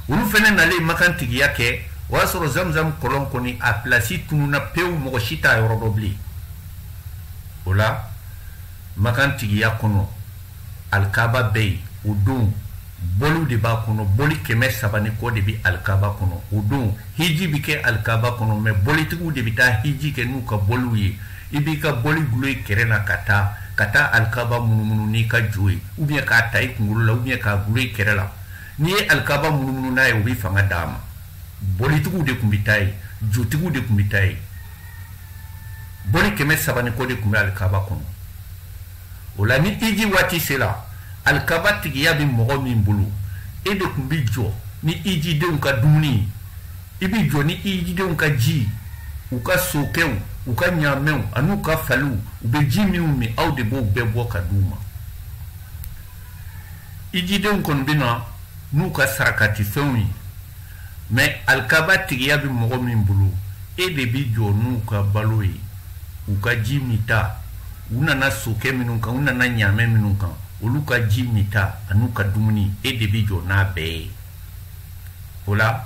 olu fana nalen makan tigiya kɛ o y'a sɔrɔ zamzam kɔlɔn kɔni a pilasi tununa pewu mɔgɔ si t'a yɔrɔ dɔn bilen o la makan tigiya kɔnɔ alikaba bɛ yen o don boliw de b'a kɔnɔ boli kɛmɛ saba ni kɔ de bɛ alikaba kɔnɔ o don hiji bɛ kɛ alikaba kɔnɔ mɛ bolitigiw de bɛ taa hiji kɛ n'u ka boliw ye i b'i ka boli gulo i kɛrɛ na ka taa ka taa alikaba munumunu n'i ka jo ye ou bien k'a ta i kungolo la ou bien k'a gulo i kɛrɛ la n'i ye alikaba munumunu n'a ye o bɛ fanga d'a ma bolitigiw de tun bɛ taa yen jotigiw de tun bɛ taa yen boli kɛmɛ saba ni kɔ de tun bɛ alikaba kɔnɔ o la ni hiji waati sera alikaba tigiya bɛ mɔgɔ min bolo e de tun bɛ jɔ ni hijidenw ka dumuni i bɛ jɔ ni hijidenw ka ji u ka sokɛw u ka ɲaamɛw an'u ka faliw u bɛ ji minnu min aw de b'o bɛɛ bɔ ka di u ma hijidenw kɔni bɛ na n'u ka sarakatifɛnw ye mais alikaba tigiya bɛ mɔgɔ min bolo e de bɛ jɔ n'u ka balo ye u ka ji minta u nana sokɛ minnu kan u nana ɲaamɛ minnu kan olu ka ji minta an'u ka dumuni e de bɛ jɔ n'a bɛɛ ye o la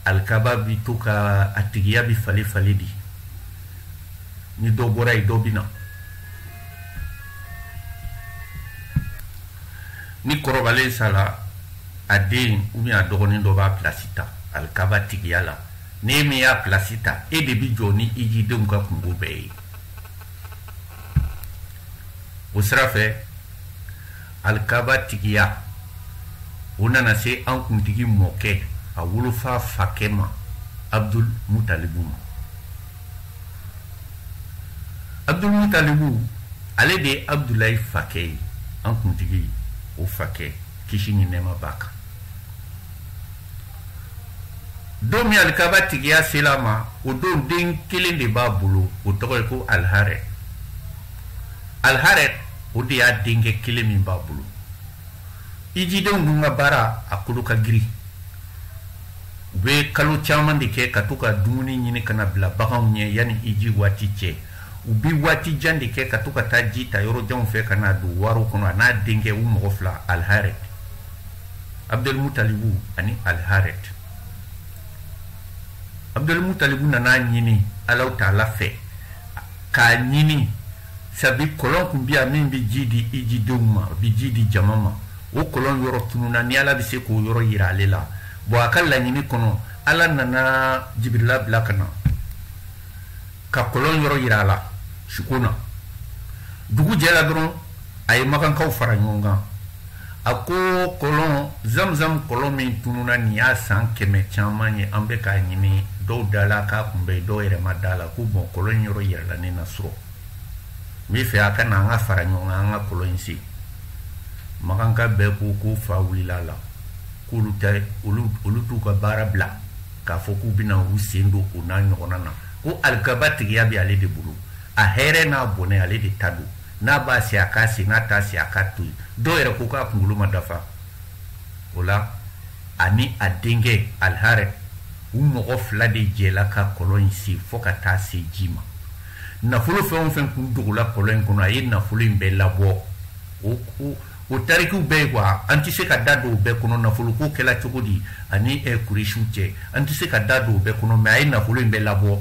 alikaba bɛ to ka a tigiya bɛ falen falen di ni dɔ bɔra yen dɔ bɛ na ni kɔrɔbalen sara a den ou bien a dɔgɔnin dɔ b'a place ta alikaba tigiya la n'e min y'a place ta e de bi jɔ ni hijidenw ka kunko bɛɛ ye o sira fɛ alikaba tigiya o nana se an kuntigi mɔkɛ a wolofa fakɛ ma abdul mutalibu ma abdul mutalibu ale de ye abdulayi fakɛ ye an kuntigi o fakɛ kisi ni nɛɛma b'a kan don min alikaba tigiya sela a ma o don den kelen de b'a bolo o tɔgɔ ye ko alharet alharet o de y'a denkɛ kelen min b'a bolo hijidenw dun ka baara a kolo ka girin u bɛ kalo caman de kɛ ka to ka dumuni ɲini ka n'a bila baganw ɲɛ yanni hiji waati cɛ u bɛ waati jan de kɛ ka to ka taa ji ta yɔrɔ janw fɛ ka n'a don waro kɔnɔ a n'a denkɛ u mɔgɔ fila alharet abdulmutalibu ani alharet abdulmutalibu nan'a ɲini alahu taala fɛ k'a ɲini sabi kɔlɔn kun bi yan min bɛ ji di hijidenw ma a bɛ ji di jama ma o kɔlɔn yɔrɔ tununa ni ala bɛ se k'o yɔrɔ yira ale la bon a ka laɲini kɔnɔ ala nana jibirila bila ka na ka kɔlɔn yɔrɔ yira a la suko na dugu jɛla dɔrɔn a ye makankaw fara ɲɔgɔn kan a ko kɔlɔn zamzam kɔlɔn min tununa nin y'a san kɛmɛ caman ye an bɛ k'a ɲini dɔw dala k'a kun bɛ dɔw yɛrɛ ma d'a la ko bon kɔlɔn yɔrɔ yirala ne na surɔ n bɛ fɛ a ka na an ka fara ɲɔgɔn kan an ka kɔlɔn in sen makanka bɛɛ ko ko fa wulila a la k'olu tɛ olu t'u ka baara bila k'a fɔ k'u bɛna u sen don o n'a ɲɔgɔnna na ko alikaba tigiya bɛ ale de bolo a hɛrɛ n'a bɔnɛ ale de ta don n'a b'a sen a k'a sen n'a t'a sen a k'a to yen dɔw yɛrɛ ko k'a kunkolo ma dafa o la ani a denkɛ alharet u mɔgɔ fila de jɛla ka kɔlɔn in sen fɔ ka taa se ji ma nafolo fɛn o fɛn kun dogola kɔlɔn in kɔnɔ a ye nafolo in bɛɛ labɔ o ko o tarikiw bɛɛ ye kuwa an tɛ se ka da don o bɛɛ kɔnɔ nafoloko kɛla cogo di ani eh, kuresiw cɛ an tɛ se ka da don o bɛɛ kɔnɔ mɛ a ye nafolo in bɛɛ labɔ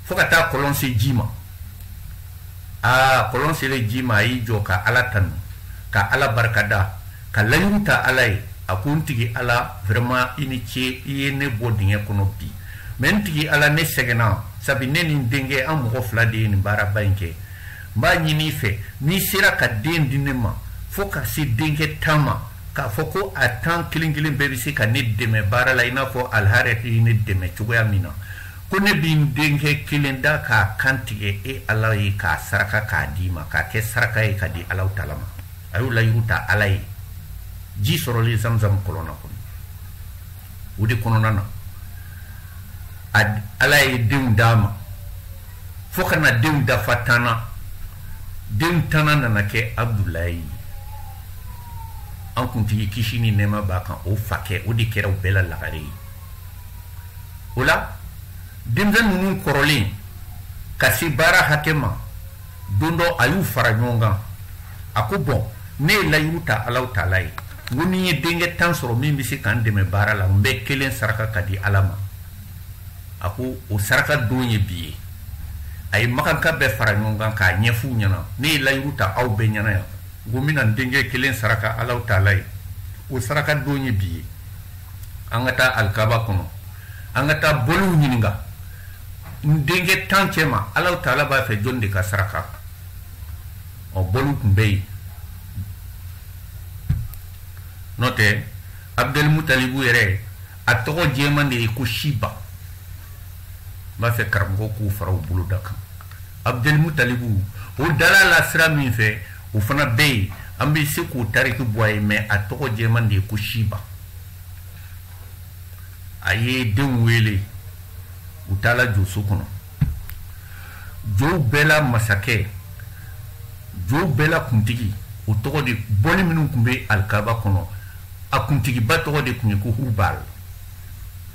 fo ka taa kɔlɔn se ji ma aa kɔlɔn selen ji ma a y'i jɔ ka ala tanu ka ala barikada ka layiru ta ala ye a ko n tigi ala vraiment i ni ce i ye ne bɔ dingɛ kɔnɔ bi mɛ n tigi ala ne sɛgɛnna sabi ne ni n denkɛ an mɔgɔ fila de ye nin baaraba in kɛ n b'a ɲini i fɛ n'i sera ka den di ne ma fo ka se denkɛ tan ma k'a fɔ ko a tan kelen kelen bɛɛ bɛ se ka ne dɛmɛ baara la i n'a fɔ aliharɛti ye ne dɛmɛ cogoya min na ko ne bɛ n denkɛ kelen da k'a kan tigɛ e ala ye k'a saraka k'a d'i ma k'a kɛ saraka ye ka di alahu taala ma a y'o layiru ta ala ye ji sɔrɔlen zamzam kɔlɔn na kɔnɔ o de kɔnɔna na ala ye denw d'a ma fo ka na denw dafa tan na denw tannan nana kɛ abudulayi ye an kuntigi kisi ni nɛɛma b'a kan o fakɛ o de kɛra u bɛɛ la lagare ye o la denmisɛn ninnu kɔrɔlen ka se baara hakɛ ma don dɔ a y'u fara ɲɔgɔn kan a ko bɔn ne ye layiru ta alahu taala ye n ko ni n ye denkɛ tan sɔrɔ min bɛ se ka n dɛmɛ baara la n bɛ kelen saraka ka di ala ma a ko o saraka don ye bi ye a ye makanka bɛɛ fara ɲɔgɔn kan k'a ɲɛf'u ɲɛna ne ye layiru ta aw bɛɛ ɲɛna yan n ko n bɛna n denkɛ kelen saraka alahu taala ye o saraka don ye bi ye an ka taa alikaba kɔnɔ an ka taa bɔliw ɲininka n denkɛ tan cɛma alahu taala b'a fɛ jɔni de ka saraka ɔ bɔliw tun bɛ yen n'o tɛ abudɛlimutalibu yɛrɛ a tɔgɔ jɛman de ye ko siba n b'a fɛ karamɔgɔ k'u fara u bolo da kan abudɛlimutalibu o dal'a la sira min fɛ o fana bɛ yen an bɛ se k'o tariki bɔ a ye mɛ a tɔgɔ jɛman de ye ko siba a ye denw wele u taala joso kɔnɔ jow bɛɛ la masakɛ jow bɛɛ la kuntigi o tɔgɔ de bɔli minnu tun bɛ alikaba kɔnɔ a kuntigiba tɔgɔ de tun ye ko hubal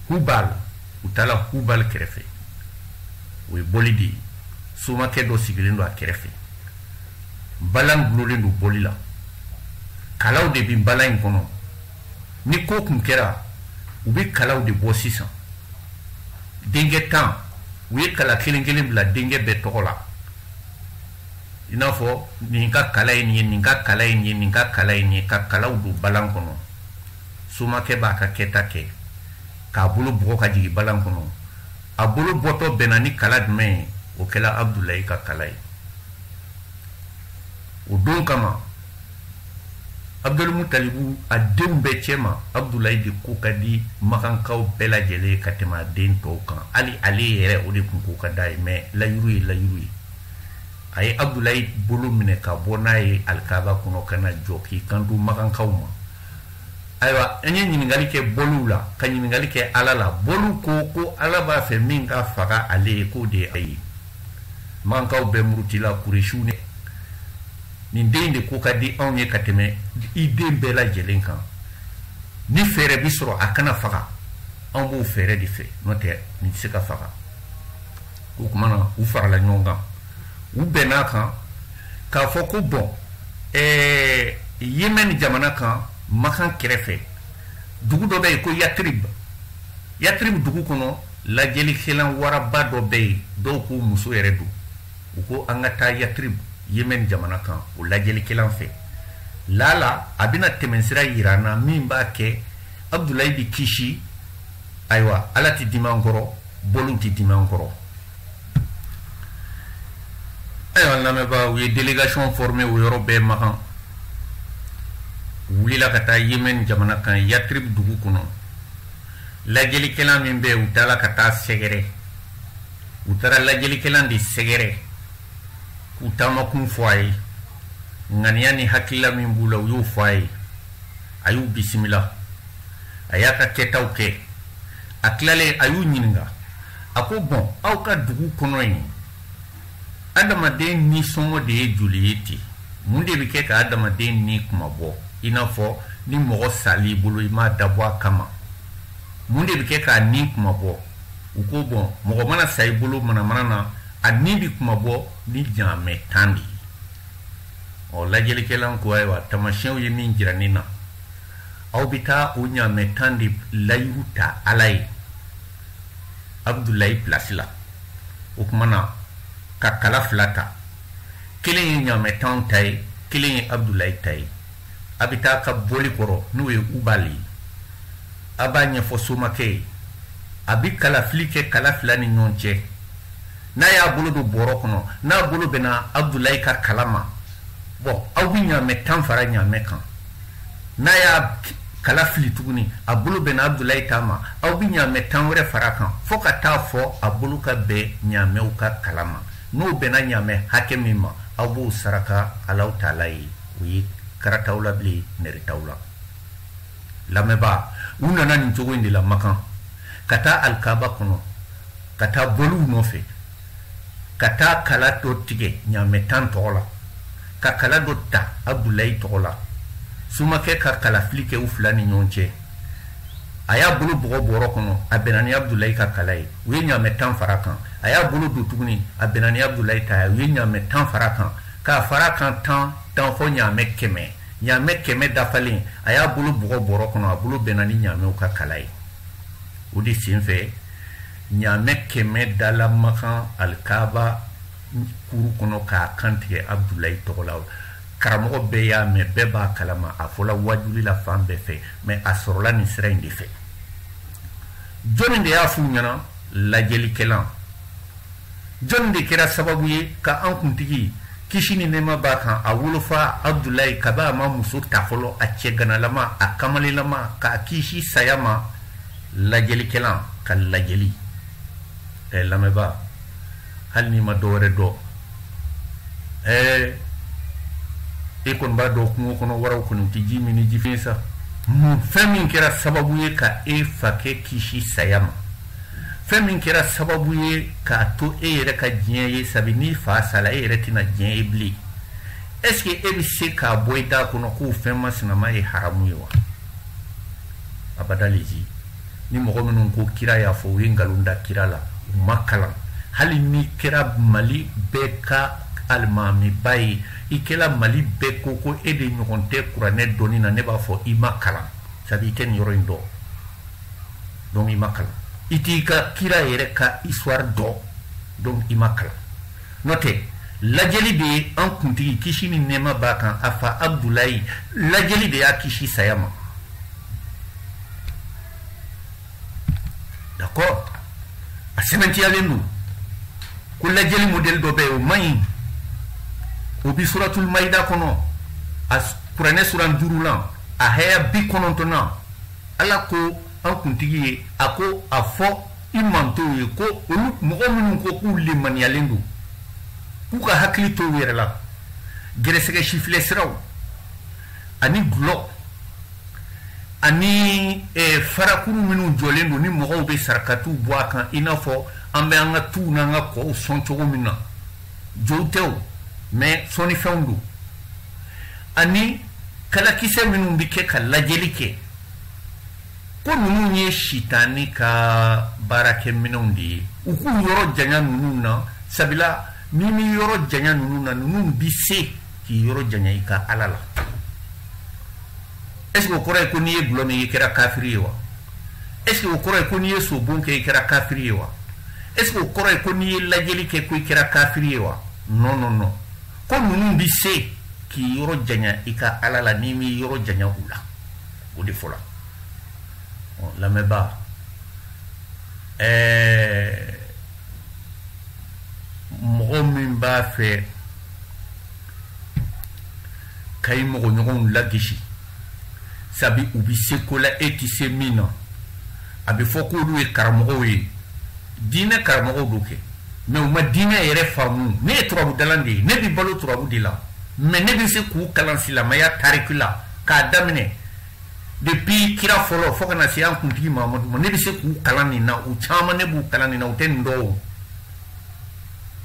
hubal u taala hubal kɛrɛfɛ o ye bɔli de ye somakɛ dɔ sigilen don a kɛrɛfɛ balan dulonnen don bɔli la kalaw de bɛ balan in kɔnɔ ni ko tun kɛra u bɛ kalaw de bɔ sisan denkɛ tan u ye kala kelen kelen bila denkɛ bɛɛ tɔgɔ la i n'a fɔ nin ka kala ye nin ye nin ka kala ye nin ye nin ka kala ye nin ye ka kalaw don balan kɔnɔ somakɛ b'a ka kɛta kɛ k'a bolo bugɔ ka jigin balan kɔnɔ a bolo bɔtɔ bɛnna ni kala jumɛn ye o kɛla abudulayi ka kala ye o don kama abudulimutalibu a denw bɛɛ cɛma abudulayi de ko ka di makankaw bɛɛ lajɛlen ka tɛmɛ a den tɔw kan hali ale yɛrɛ o de tun ko ka d'a ye mɛ layiru ye layiru ye a ye abudulayi bolo minɛ ka bɔ n'a ye alikaba kɔnɔ ka na jɔ k'i kanto makankaw ma ayiwa an ye ɲininkali kɛ boliw la ka ɲininkali kɛ ala la boliw ko ko ala b'a fɛ min ka faga ale ye k'o de ye a ye makankaw bɛɛ murutila kuresiw ne nin den de ko ka di anw ye ka tɛmɛ i den bɛɛ lajɛlen kan ni fɛɛrɛ bi sɔrɔ a kana faga an b'o fɛɛrɛ de fɛ n'o tɛ nin tɛ se ka faga o tuma na u farala ɲɔgɔn kan u bɛnn'a kan k'a fɔ ko bɔn ɛɛ yemɛni jamana kan makan kɛrɛfɛ dugu dɔ bɛ yen ko yatirib yatirib dugu kɔnɔ lajɛlikɛlan waraba dɔ bɛ yen dɔw ko muso yɛrɛ don u ko an ka taa yatrib yemen jamana kan o lajɛlikɛlan fɛ lala a bɛna tɛmɛnsira yira an na min b'a kɛ abudulayi bi kisi ayiwa ala tɛ dimi an kɔrɔ boliw tɛ dimi an kɔrɔ ayiwa n lamɛnbaa u ye delegation forme o yɔrɔ bɛɛ makan wulila ka taa yemen jamana kan yatrib dugu kɔnɔ lajɛlikɛla min bɛ u taara ka t'a sɛgɛrɛ u taara lajɛlikɛlan de sɛgɛrɛ k'u taamakun fɔ a ye ŋaniya ni hakilila min b'u la u y'o fɔ a ye a y'u bisimila a y'a ka kɛtaw kɛ a tilalen a y'u ɲininka a ko bɔn aw ka dugu kɔnɔ yen adamaden nisɔngɔ de ye joli ye ten mun de bɛ kɛ ka adamaden ni kunmabɔ i n'a fɔ ni mɔgɔ sal'i bolo i m'a dabɔ a kama mun de bɛ kɛ k'a ni kunmabɔ u ko bɔn mɔgɔ mana sa i bolo manamana na a ni bɛ kunmabɔ ni ɲamɛ tan de ye ɔ lajɛlikɛla ko ayiwa taamasiyɛnw ye min jira ne na aw bɛ taa o ɲamɛ tan de layiru ta ala ye abudulayi pilasi la o tuma na ka kala fila ta kelen ye ɲamɛ tan ta ye kelen ye abudulayi ta ye a bɛ taa a ka boli kɔrɔ n'o ye ubali ye a b'a ɲɛfɔ somakɛ ye a bi kalafili kɛ kala fila ni ɲɔgɔn cɛ n'a y'a bolo don bɔrɔ kɔnɔ n'a bolo bɛnna abudulayi ka kala ma bɔn aw bi ɲaamɛ tan fara ɲaamɛ kan n'a y'a kala fili tuguni a bolo bɛnna abudulayi ta ma aw bi ɲaamɛ tan wɛrɛ fara kan fɔɔ ka taa fɔ a bolo ka bɛn ɲaamɛw ka kala ma n'o bɛnna ɲaamɛ hakɛ min ma aw b'o saraka alahu taala ye o ye kara t'aw la bilen nɛri t'aw la lamɛnbaa u nana nin cogo in de la makan ka taa alikaba kɔnɔ ka taa boliw nɔfɛ ka taa kala dɔ tigɛ ɲaamɛ tan tɔgɔ la ka kala dɔ ta abudulayi tɔgɔ la somakɛ ka kalafili kɛ u fila ni ɲɔgɔn cɛ a y'a bolo bugɔ bɔrɔ kɔnɔ a bɛnna ni abudulayi ka kala ye u ye ɲaamɛ tan fara kan a y'a bolo don tuguni a bɛnna ni abudulayi ta ye u ye ɲaamɛ tan fara kan k'a fara kan tan tan fɔ ɲaamɛ kɛmɛ ɲaamɛ kɛmɛ dafalen a y'a bolo bugɔ bɔrɔ kɔnɔ a bolo bɛnna ni ɲaamɛw ka kala ye o de sen fɛ ɲaamɛ kɛmɛ dala makan alikaba kuru kɔnɔ k'a kantigɛ abudulayi tɔgɔ la karamɔgɔ bɛɛ y'a mɛn bɛɛ b'a kalama a fɔla wajuli la fan bɛɛ fɛ mais a sɔrɔla nin sira in de fɛ jɔnni de y'a f'u ɲɛna lajɛlikɛlan jɔnni de kɛra sababu ye ka an kuntigi kisi ni nɛɛma b'a kan a wolofa abudulayi kabi a ma muso ta fɔlɔ a cɛganalama a kamalelama k'a kisi saya ma lajɛlikɛlan ka lajɛli ɛɛ lamɛnbaa hali n'i ma dɔ wɛrɛ dɔn ɛɛ e kɔni b'a dɔn kungo kɔnɔ waraw kɔni u tɛ ji min ni jifiɲɛ sa mun fɛn min kɛra sababu ye ka e fakɛ kisi saya ma fɛn min kɛra sababu ye k'a to e yɛrɛ ka diɲɛ ye sabi n'i fa sala e yɛrɛ tɛna diɲɛ ye bilen est ce que e bɛ se k'a bɔ i da kɔnɔ k'o fɛn masinama ye haramu ye wa abada le ji ni mɔgɔ minnu ko kira y'a fɔ u ye nkalon da kira la u ma kalan hali n'i kɛra mali bɛɛ ka alimamiba ye i kɛra mali bɛɛ ko ko e de ɲɔgɔn tɛ kuranɛ dɔnni na ne b'a fɔ i ma kalan sabu i tɛ nin yɔrɔ in dɔn donc i ma kalan i t'i ka kira yɛrɛ ka histoire dɔn donc i ma kalan n'o tɛ lajɛli de ye an kuntigi kisi ni nɛɛma b'a kan a fa abudulayi lajɛli de y'a kisi saya ma d'accord a sɛbɛntiyalen don ko lajɛli modèle dɔ bɛ yen o man ɲi o bi suratul mayida kɔnɔ a kuranɛ suran duuru la a haya bi kɔnɔntɔnnan ala ko an kuntigi ye a ko a fɔ i mantow ye ko olu mɔgɔ minnu ko k'u lemaniyalen don k'u ka hakili to u yɛrɛ la gɛrɛsɛgɛ sifilɛ siraw ani dulɔ ani eh, farakuru minnu jɔlen don ni mɔgɔw bɛ sarakatiw bɔ a kan i n'a fɔ an bɛ an ka tuw n'an ka kɔw sɔn cogo min na jow tɛ o mais sɔnnifɛnw don ani kalakisɛ minnu bɛ kɛ ka lajɛli kɛ ko ninnu ye sitani ka baarakɛminɛnw de ye u k'u yɔrɔ janya ninnu na sabula n'i m'i yɔrɔ janya ninnu na ninnu bɛ se k'i yɔrɔ janya i ka ala la est ce que o kɔrɔ ye ko n'i ye gulɔ min i kɛra kafiri ye wa est ce que o kɔrɔ ye ko n'i ye sobon kɛ i kɛra kafiri ye wa est ce que o kɔrɔ ye ko n'i ye lajɛli kɛ ko i kɛra kafiri ye wa non non non ko ninnu bi se k'i yɔrɔ janya i ka ala la n'i m'i yɔrɔ janya u la o de fɔla lamɛnbaa ɛɛ mɔgɔ min b'a fɛ ka i mɔgɔɲɔgɔnw lagisi sabi u bi se ko la e ti se min na a bɛ fɔ k'olu ye karamɔgɔw ye diinɛ karamɔgɔw don kɛ mais u ma diinɛ yɛrɛ faamu ne ye turabudalan de ye ne bi balo turabu de la mais ne bɛ se k'u kalan silamɛya tariki la k'a daminɛ depuis kira fɔlɔ fo ka na se an kuntigi mamadu ma ne bɛ se k'u kalan nin na u caman ne b'u kalan nin na u tɛ nin dɔn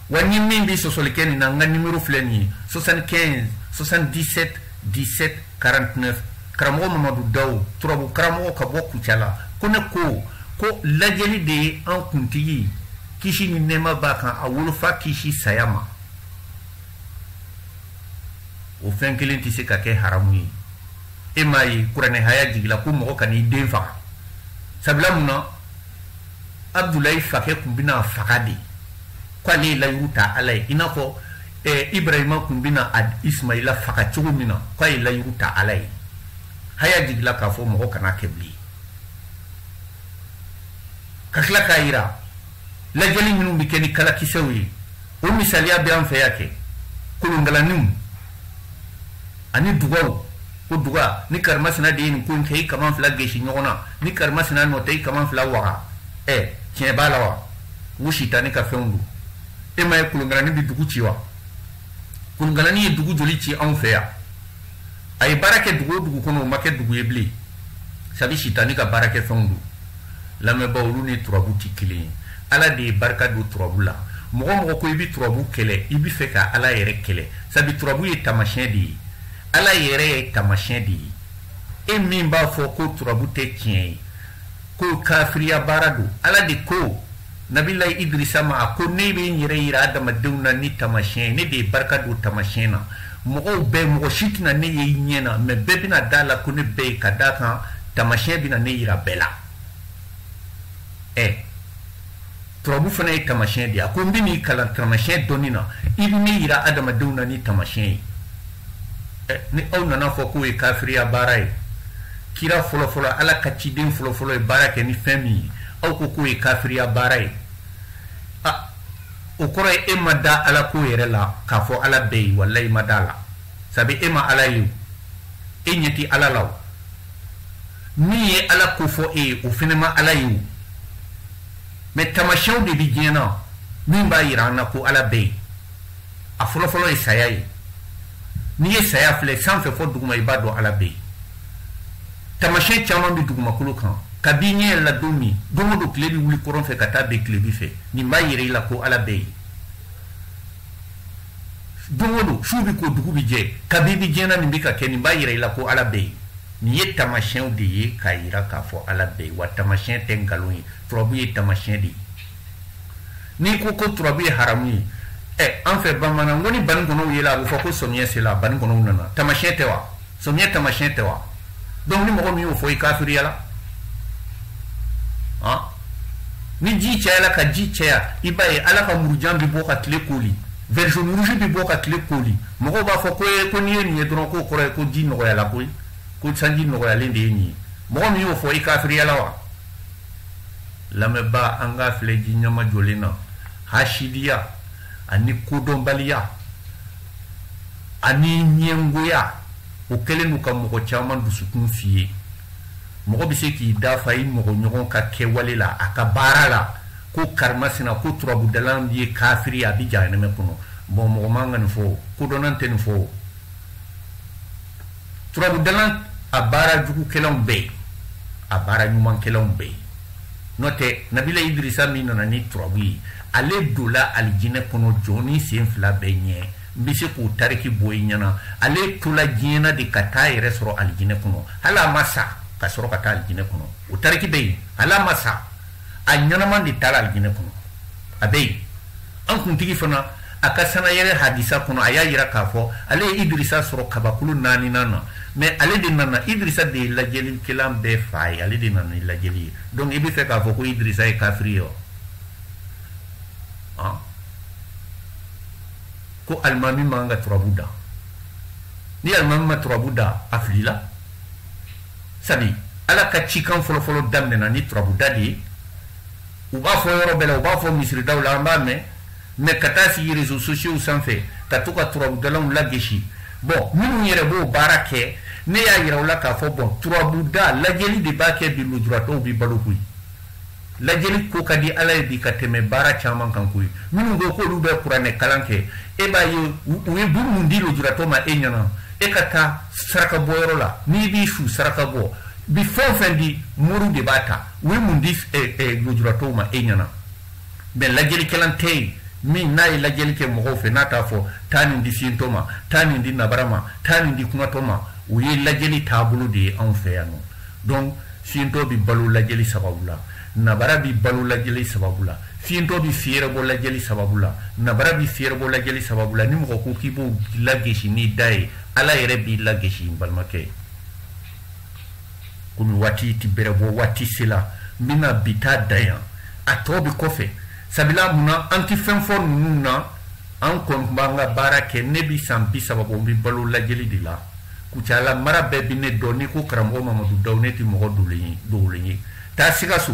wa ni min bɛ sɔsɔli kɛ nin na n ka nimero filɛ nin ye 75 77 17 49 karamɔgɔ mamadu daw turabu karamɔgɔ ka bɔ kucala ko ne ko ko lajɛli de ye an kuntigi kisi ni nɛɛma b'a kan a wolofa kisi saya ma o fɛn kelen tɛ se ka kɛ haramu ye e m'a ye kuranɛ haya jigila ko mɔgɔ kan'i den faga sabula mun na abudulayi fakɛ tun bɛn'a faga de k'ale ye layiru ta ala ye i n'a fɔ eh, ibrahima tun bɛna ismaila faga cogo min na k'a ye layiru ta ala ye haya jigila k'a fɔ mɔgɔ kan'a kɛ bilen ka tila k'a yira lajɛli minnu bɛ kɛ ni kalakisɛw ye o misaliya bɛ an fɛ yan kɛ kolonkalanniw ani dugaw ko duga ni karimasina de ye nin ko in kɛ i kaman fila gesi ɲɔgɔn na ni karimasina nɔ tɛ i kaman fila waga ɛ tiɲɛ b'a la wa u sitani ka fɛnw don e m'a ye kolonkalani bɛ dugu ci wa kolonkalani ye dugu joli ci anw fɛ yan a ye baara kɛ dugu o dugu kɔnɔ o ma kɛ dugu ye bilen sabi sitani ka baarakɛfɛnw don lamɛnbaa olu ni turabu tɛ kelen ye ala de ye barika don turabu la mɔgɔ o mɔgɔ ko i bɛ turabu kɛlɛ i b'a fɛ ka ala yɛrɛ kɛlɛ sabu turabu ye taamasiyɛn de ye ala yɛrɛ ye taamasiyɛn de ye e min b'a fɔ ko turabu tɛ tiɲɛ ye ko kafiriya baara don ala de ko nabilayi idirisa ma a ko ne bɛ n yɛrɛ yira adamadenw na ni tamasiyɛn ye ne de ye barika don tamasiyɛn na mɔgɔw bɛɛ mɔgɔ si tɛna ne ye i ɲɛ na mɛ bɛɛ bɛna da la ko ne bɛ yen ka da kan tamasiyɛn bɛna ne yira bɛɛ la ɛ turabu fana ye tamasiyɛn de ye a ko n bɛ n'i kalan tamasiyɛn dɔnni na i bɛ ne yira adamadenw na ni tamasiyɛn ye ni aw nana fɔ k'o ye kafiriya baara ye kira fɔlɔfɔlɔ ala ka ciden fɔlɔfɔlɔ ye baara kɛ ni fɛn min ye aw ko k'o ye kafiriya baara ye o kɔrɔ ye e ma da ala ko yɛrɛ la k'a fɔ ala bɛ yen walayi i ma da la sabu e ma ala ye e ɲɛ tɛ ala la o min ye ala ko fɔ e ye o fɛnɛ ma ala ye o mɛ tamasiyɛnw de bi diɲɛ na min b'a yira an na ko ala bɛ yen a fɔlɔfɔlɔ ye saya ye n'i ye saya filɛ sanfɛ fɔ duguma i b'a dɔn ala bɛ yen tamasiyɛn caman bɛ dugumakolo kan ka b'i ɲɛ yɛrɛ la don min don o don tile bɛ wuli kɔrɔn fɛ ka taa bin tilebi fɛ nin b'a yira i la ko ala bɛ yen don o don su bɛ ko dugu bɛ jɛ kabi bɛ diɲɛ na nin bɛ ka kɛ nin b'a yira i la ko ala bɛ yen nin ye tamasiyɛnw de ye k'a yira k'a fɔ ala bɛ yen wa tamasiyɛn tɛ nkalon ye turabu ye tamasiyɛn de ye n'i ko ko turabu ye haramu ye ɛ an fɛ bamanan ko ni banikɔnɔw yela a bɛ fɔ ko samiyɛ sela banikɔnɔw nana tamasiyɛn tɛ wa samiyɛ tamasiyɛn tɛ wa donc ni mɔgɔ min y'o fɔ i kafiriyala han ni ji cayala ka ji caya i b'a ye ala ka murujan bɛ bɔ ka tile koli version rouge bɛ bɔ ka tile koli mɔgɔw b'a fɔ ko ye ko n'i ye nin ye dɔrɔn k'o kɔrɔ ye ko ji nɔgɔyala koyi ko sanji nɔgɔyalen de ye nin ye mɔgɔ min y'o fɔ i kafiriyala wa lamɛnbaa an k'a filɛ ji ɲɛmajɔlen na hasidiya ani kodɔnbaliya ani ɲɛngoya o kɛlen don ka mɔgɔ caman dusukun fiyen mɔgɔ bɛ se k'i dafa i mɔgɔɲɔgɔn ka kɛwale la a ka baara la ko karimasina ko turabudalan ye kafiri a bɛ jahanɛmɛ kɔnɔ bɔn mɔgɔ man ka nin fɔ kodɔnnan tɛ nin fɔ turabudalan a baara jugukɛlanw bɛ yen a baara ɲumankɛlanw bɛ yen n'o tɛ nabila idirisa min nana ni turabu ye ale dola alijinɛ kɔnɔ jɔnnin senfila bɛɛ ɲɛ n bɛ se k'o tariki bɔ i ɲɛ na ale tola diɲɛ na de ka taa yɛrɛ sɔrɔ alijinɛ kɔnɔ hali a ma sa ka sɔrɔ ka taa alijinɛ kɔnɔ o tariki bɛ yen hali a ma sa a ɲɛnama de taara alijinɛ kɔnɔ a bɛ yen an kuntigi fana a ka sannayɛlɛn hadisa kɔnɔ a y'a yira k'a fɔ ale ye idirisa sɔrɔ kabakulu naaninan na mɛ ale de nana idirisa de ye lajɛlikɛlan bɛɛ fa ye ale de nana ni lajɛli ye donc i bɛ fɛ k'a fɔ ko idirisa ye kafiri ye wa ah. ko alimami man ka turabu da ni alimami ma turabu da a filila sabu ala ka cikan fɔlɔfɔlɔ daminɛna ni turabu da de ye u b'a fɔ yɔrɔ bɛɛ la u b'a fɔ misiridaw la an b'a mɛn mais ka taa sigi réseaux sociaux sanfɛ ka to ka turabudalanw lagesi bon minnu yɛrɛ b'o baara kɛ ne y'a yira u la k'a fɔ bon turabuda lajɛli de b'a kɛ bi lujuratɔw bi balo koyi lajɛli ko ka di ala ye bi ka tɛmɛ baara caman kan koyi minnu ko k'olu bɛ kuranɛ kalan kɛ e b'a ye u ye bu mun di lujuratɔ ma e ɲɛna e ka taa saraka bɔyɔrɔ la n'i bi su saraka bɔ bi fɛn o fɛn di mori de b'a ta u ye mun di lujuratɔw ma e ɲɛna mais lajɛlikɛlan tɛ yen min n'a ye lajɛli kɛ mɔgɔw fɛ n'a t'a fɔ taa nin di fiyentɔ ma taa nin di nabara ma taa nin di kunatɔ ma o ye lajɛli taabolo de ye anw fɛ yan nɔ donc fiyentɔ bɛ balo lajɛli sababu la nabara bɛ balo lajɛli sababu la fiyentɔ bɛ fiyɛrɛbɔ lajɛli sababu la nabara bɛ fiyɛrɛbɔ lajɛli sababu la ni mɔgɔ ko k'i b'o lagesi n'i da ye ala yɛrɛ b'i lagesi n balimakɛ ye komi waati ti bɛrɛ bɔ waati sela n bɛna bi ta dan yan a tɔ bɛ kɔfɛ sabula mun na an tɛ fɛn fɔ ninnu na an kɔni b'an ka baara kɛ ne bɛ san bi saba bɔ n bɛ balo lajɛli de la kucala mara bɛɛ bɛ ne dɔn n'i ko karamɔgɔ mamadu daw ne tɛ mɔgɔ dogolen ye dogolen ye taa sikaso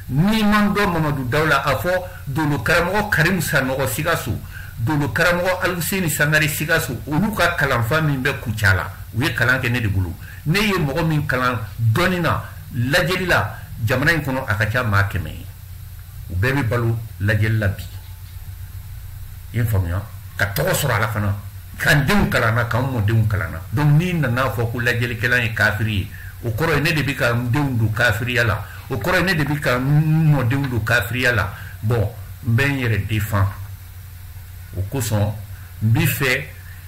n'i ma n dɔn mamadu daw la a fɔ dolo karamɔgɔ karimu sanɔgɔ sikaso dolo karamɔgɔ aluseni sangare sikaso olu ka kalanfa min bɛ kucala u ye kalan kɛ ne de bolo ne ye mɔgɔ min kalan dɔnni na lajɛli la jamana in kɔnɔ a ka ca maa kɛmɛ ye u bɛɛ bɛ balo lajɛli la bi i ye faamuya ka tɔgɔ sɔrɔ a la fana ka n denw kalanna ka n mɔdenw kalanna donc n'i nana fɔ ko lajɛlikɛla ye kafiri ye o kɔrɔ ye ne de bɛ ka n denw don kafiriya la o kɔrɔ ye ne de bɛ ka n mɔdenw don kafiriya la bon n bɛ n yɛrɛ défend o kosɔn n b'a fɛ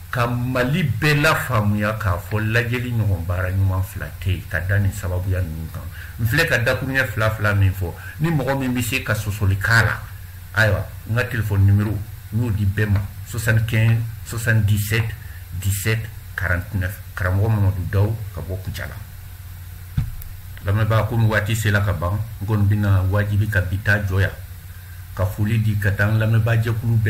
ka mali bɛɛ lafaamuya k'a fɔ lajɛli ɲɔgɔn baara ɲuman fila tɛ yen ka da nin sababuya ninnu kan n filɛ ka dakuruɲɛ fila fila min fɔ ni mɔgɔ min bɛ se ka sɔsɔli k'a la ayiwa n ka telefɔni nimero n y'o di bɛɛ ma 75 77 17 49 karamɔgɔ mamadu daw ka bɔ kucala lamɛnbaa komi waati sela ka ban n kɔni bɛna wajibi ka bi ta jɔ yan ka foli di ka taa n lamɛnbaa jɛkulu bɛɛ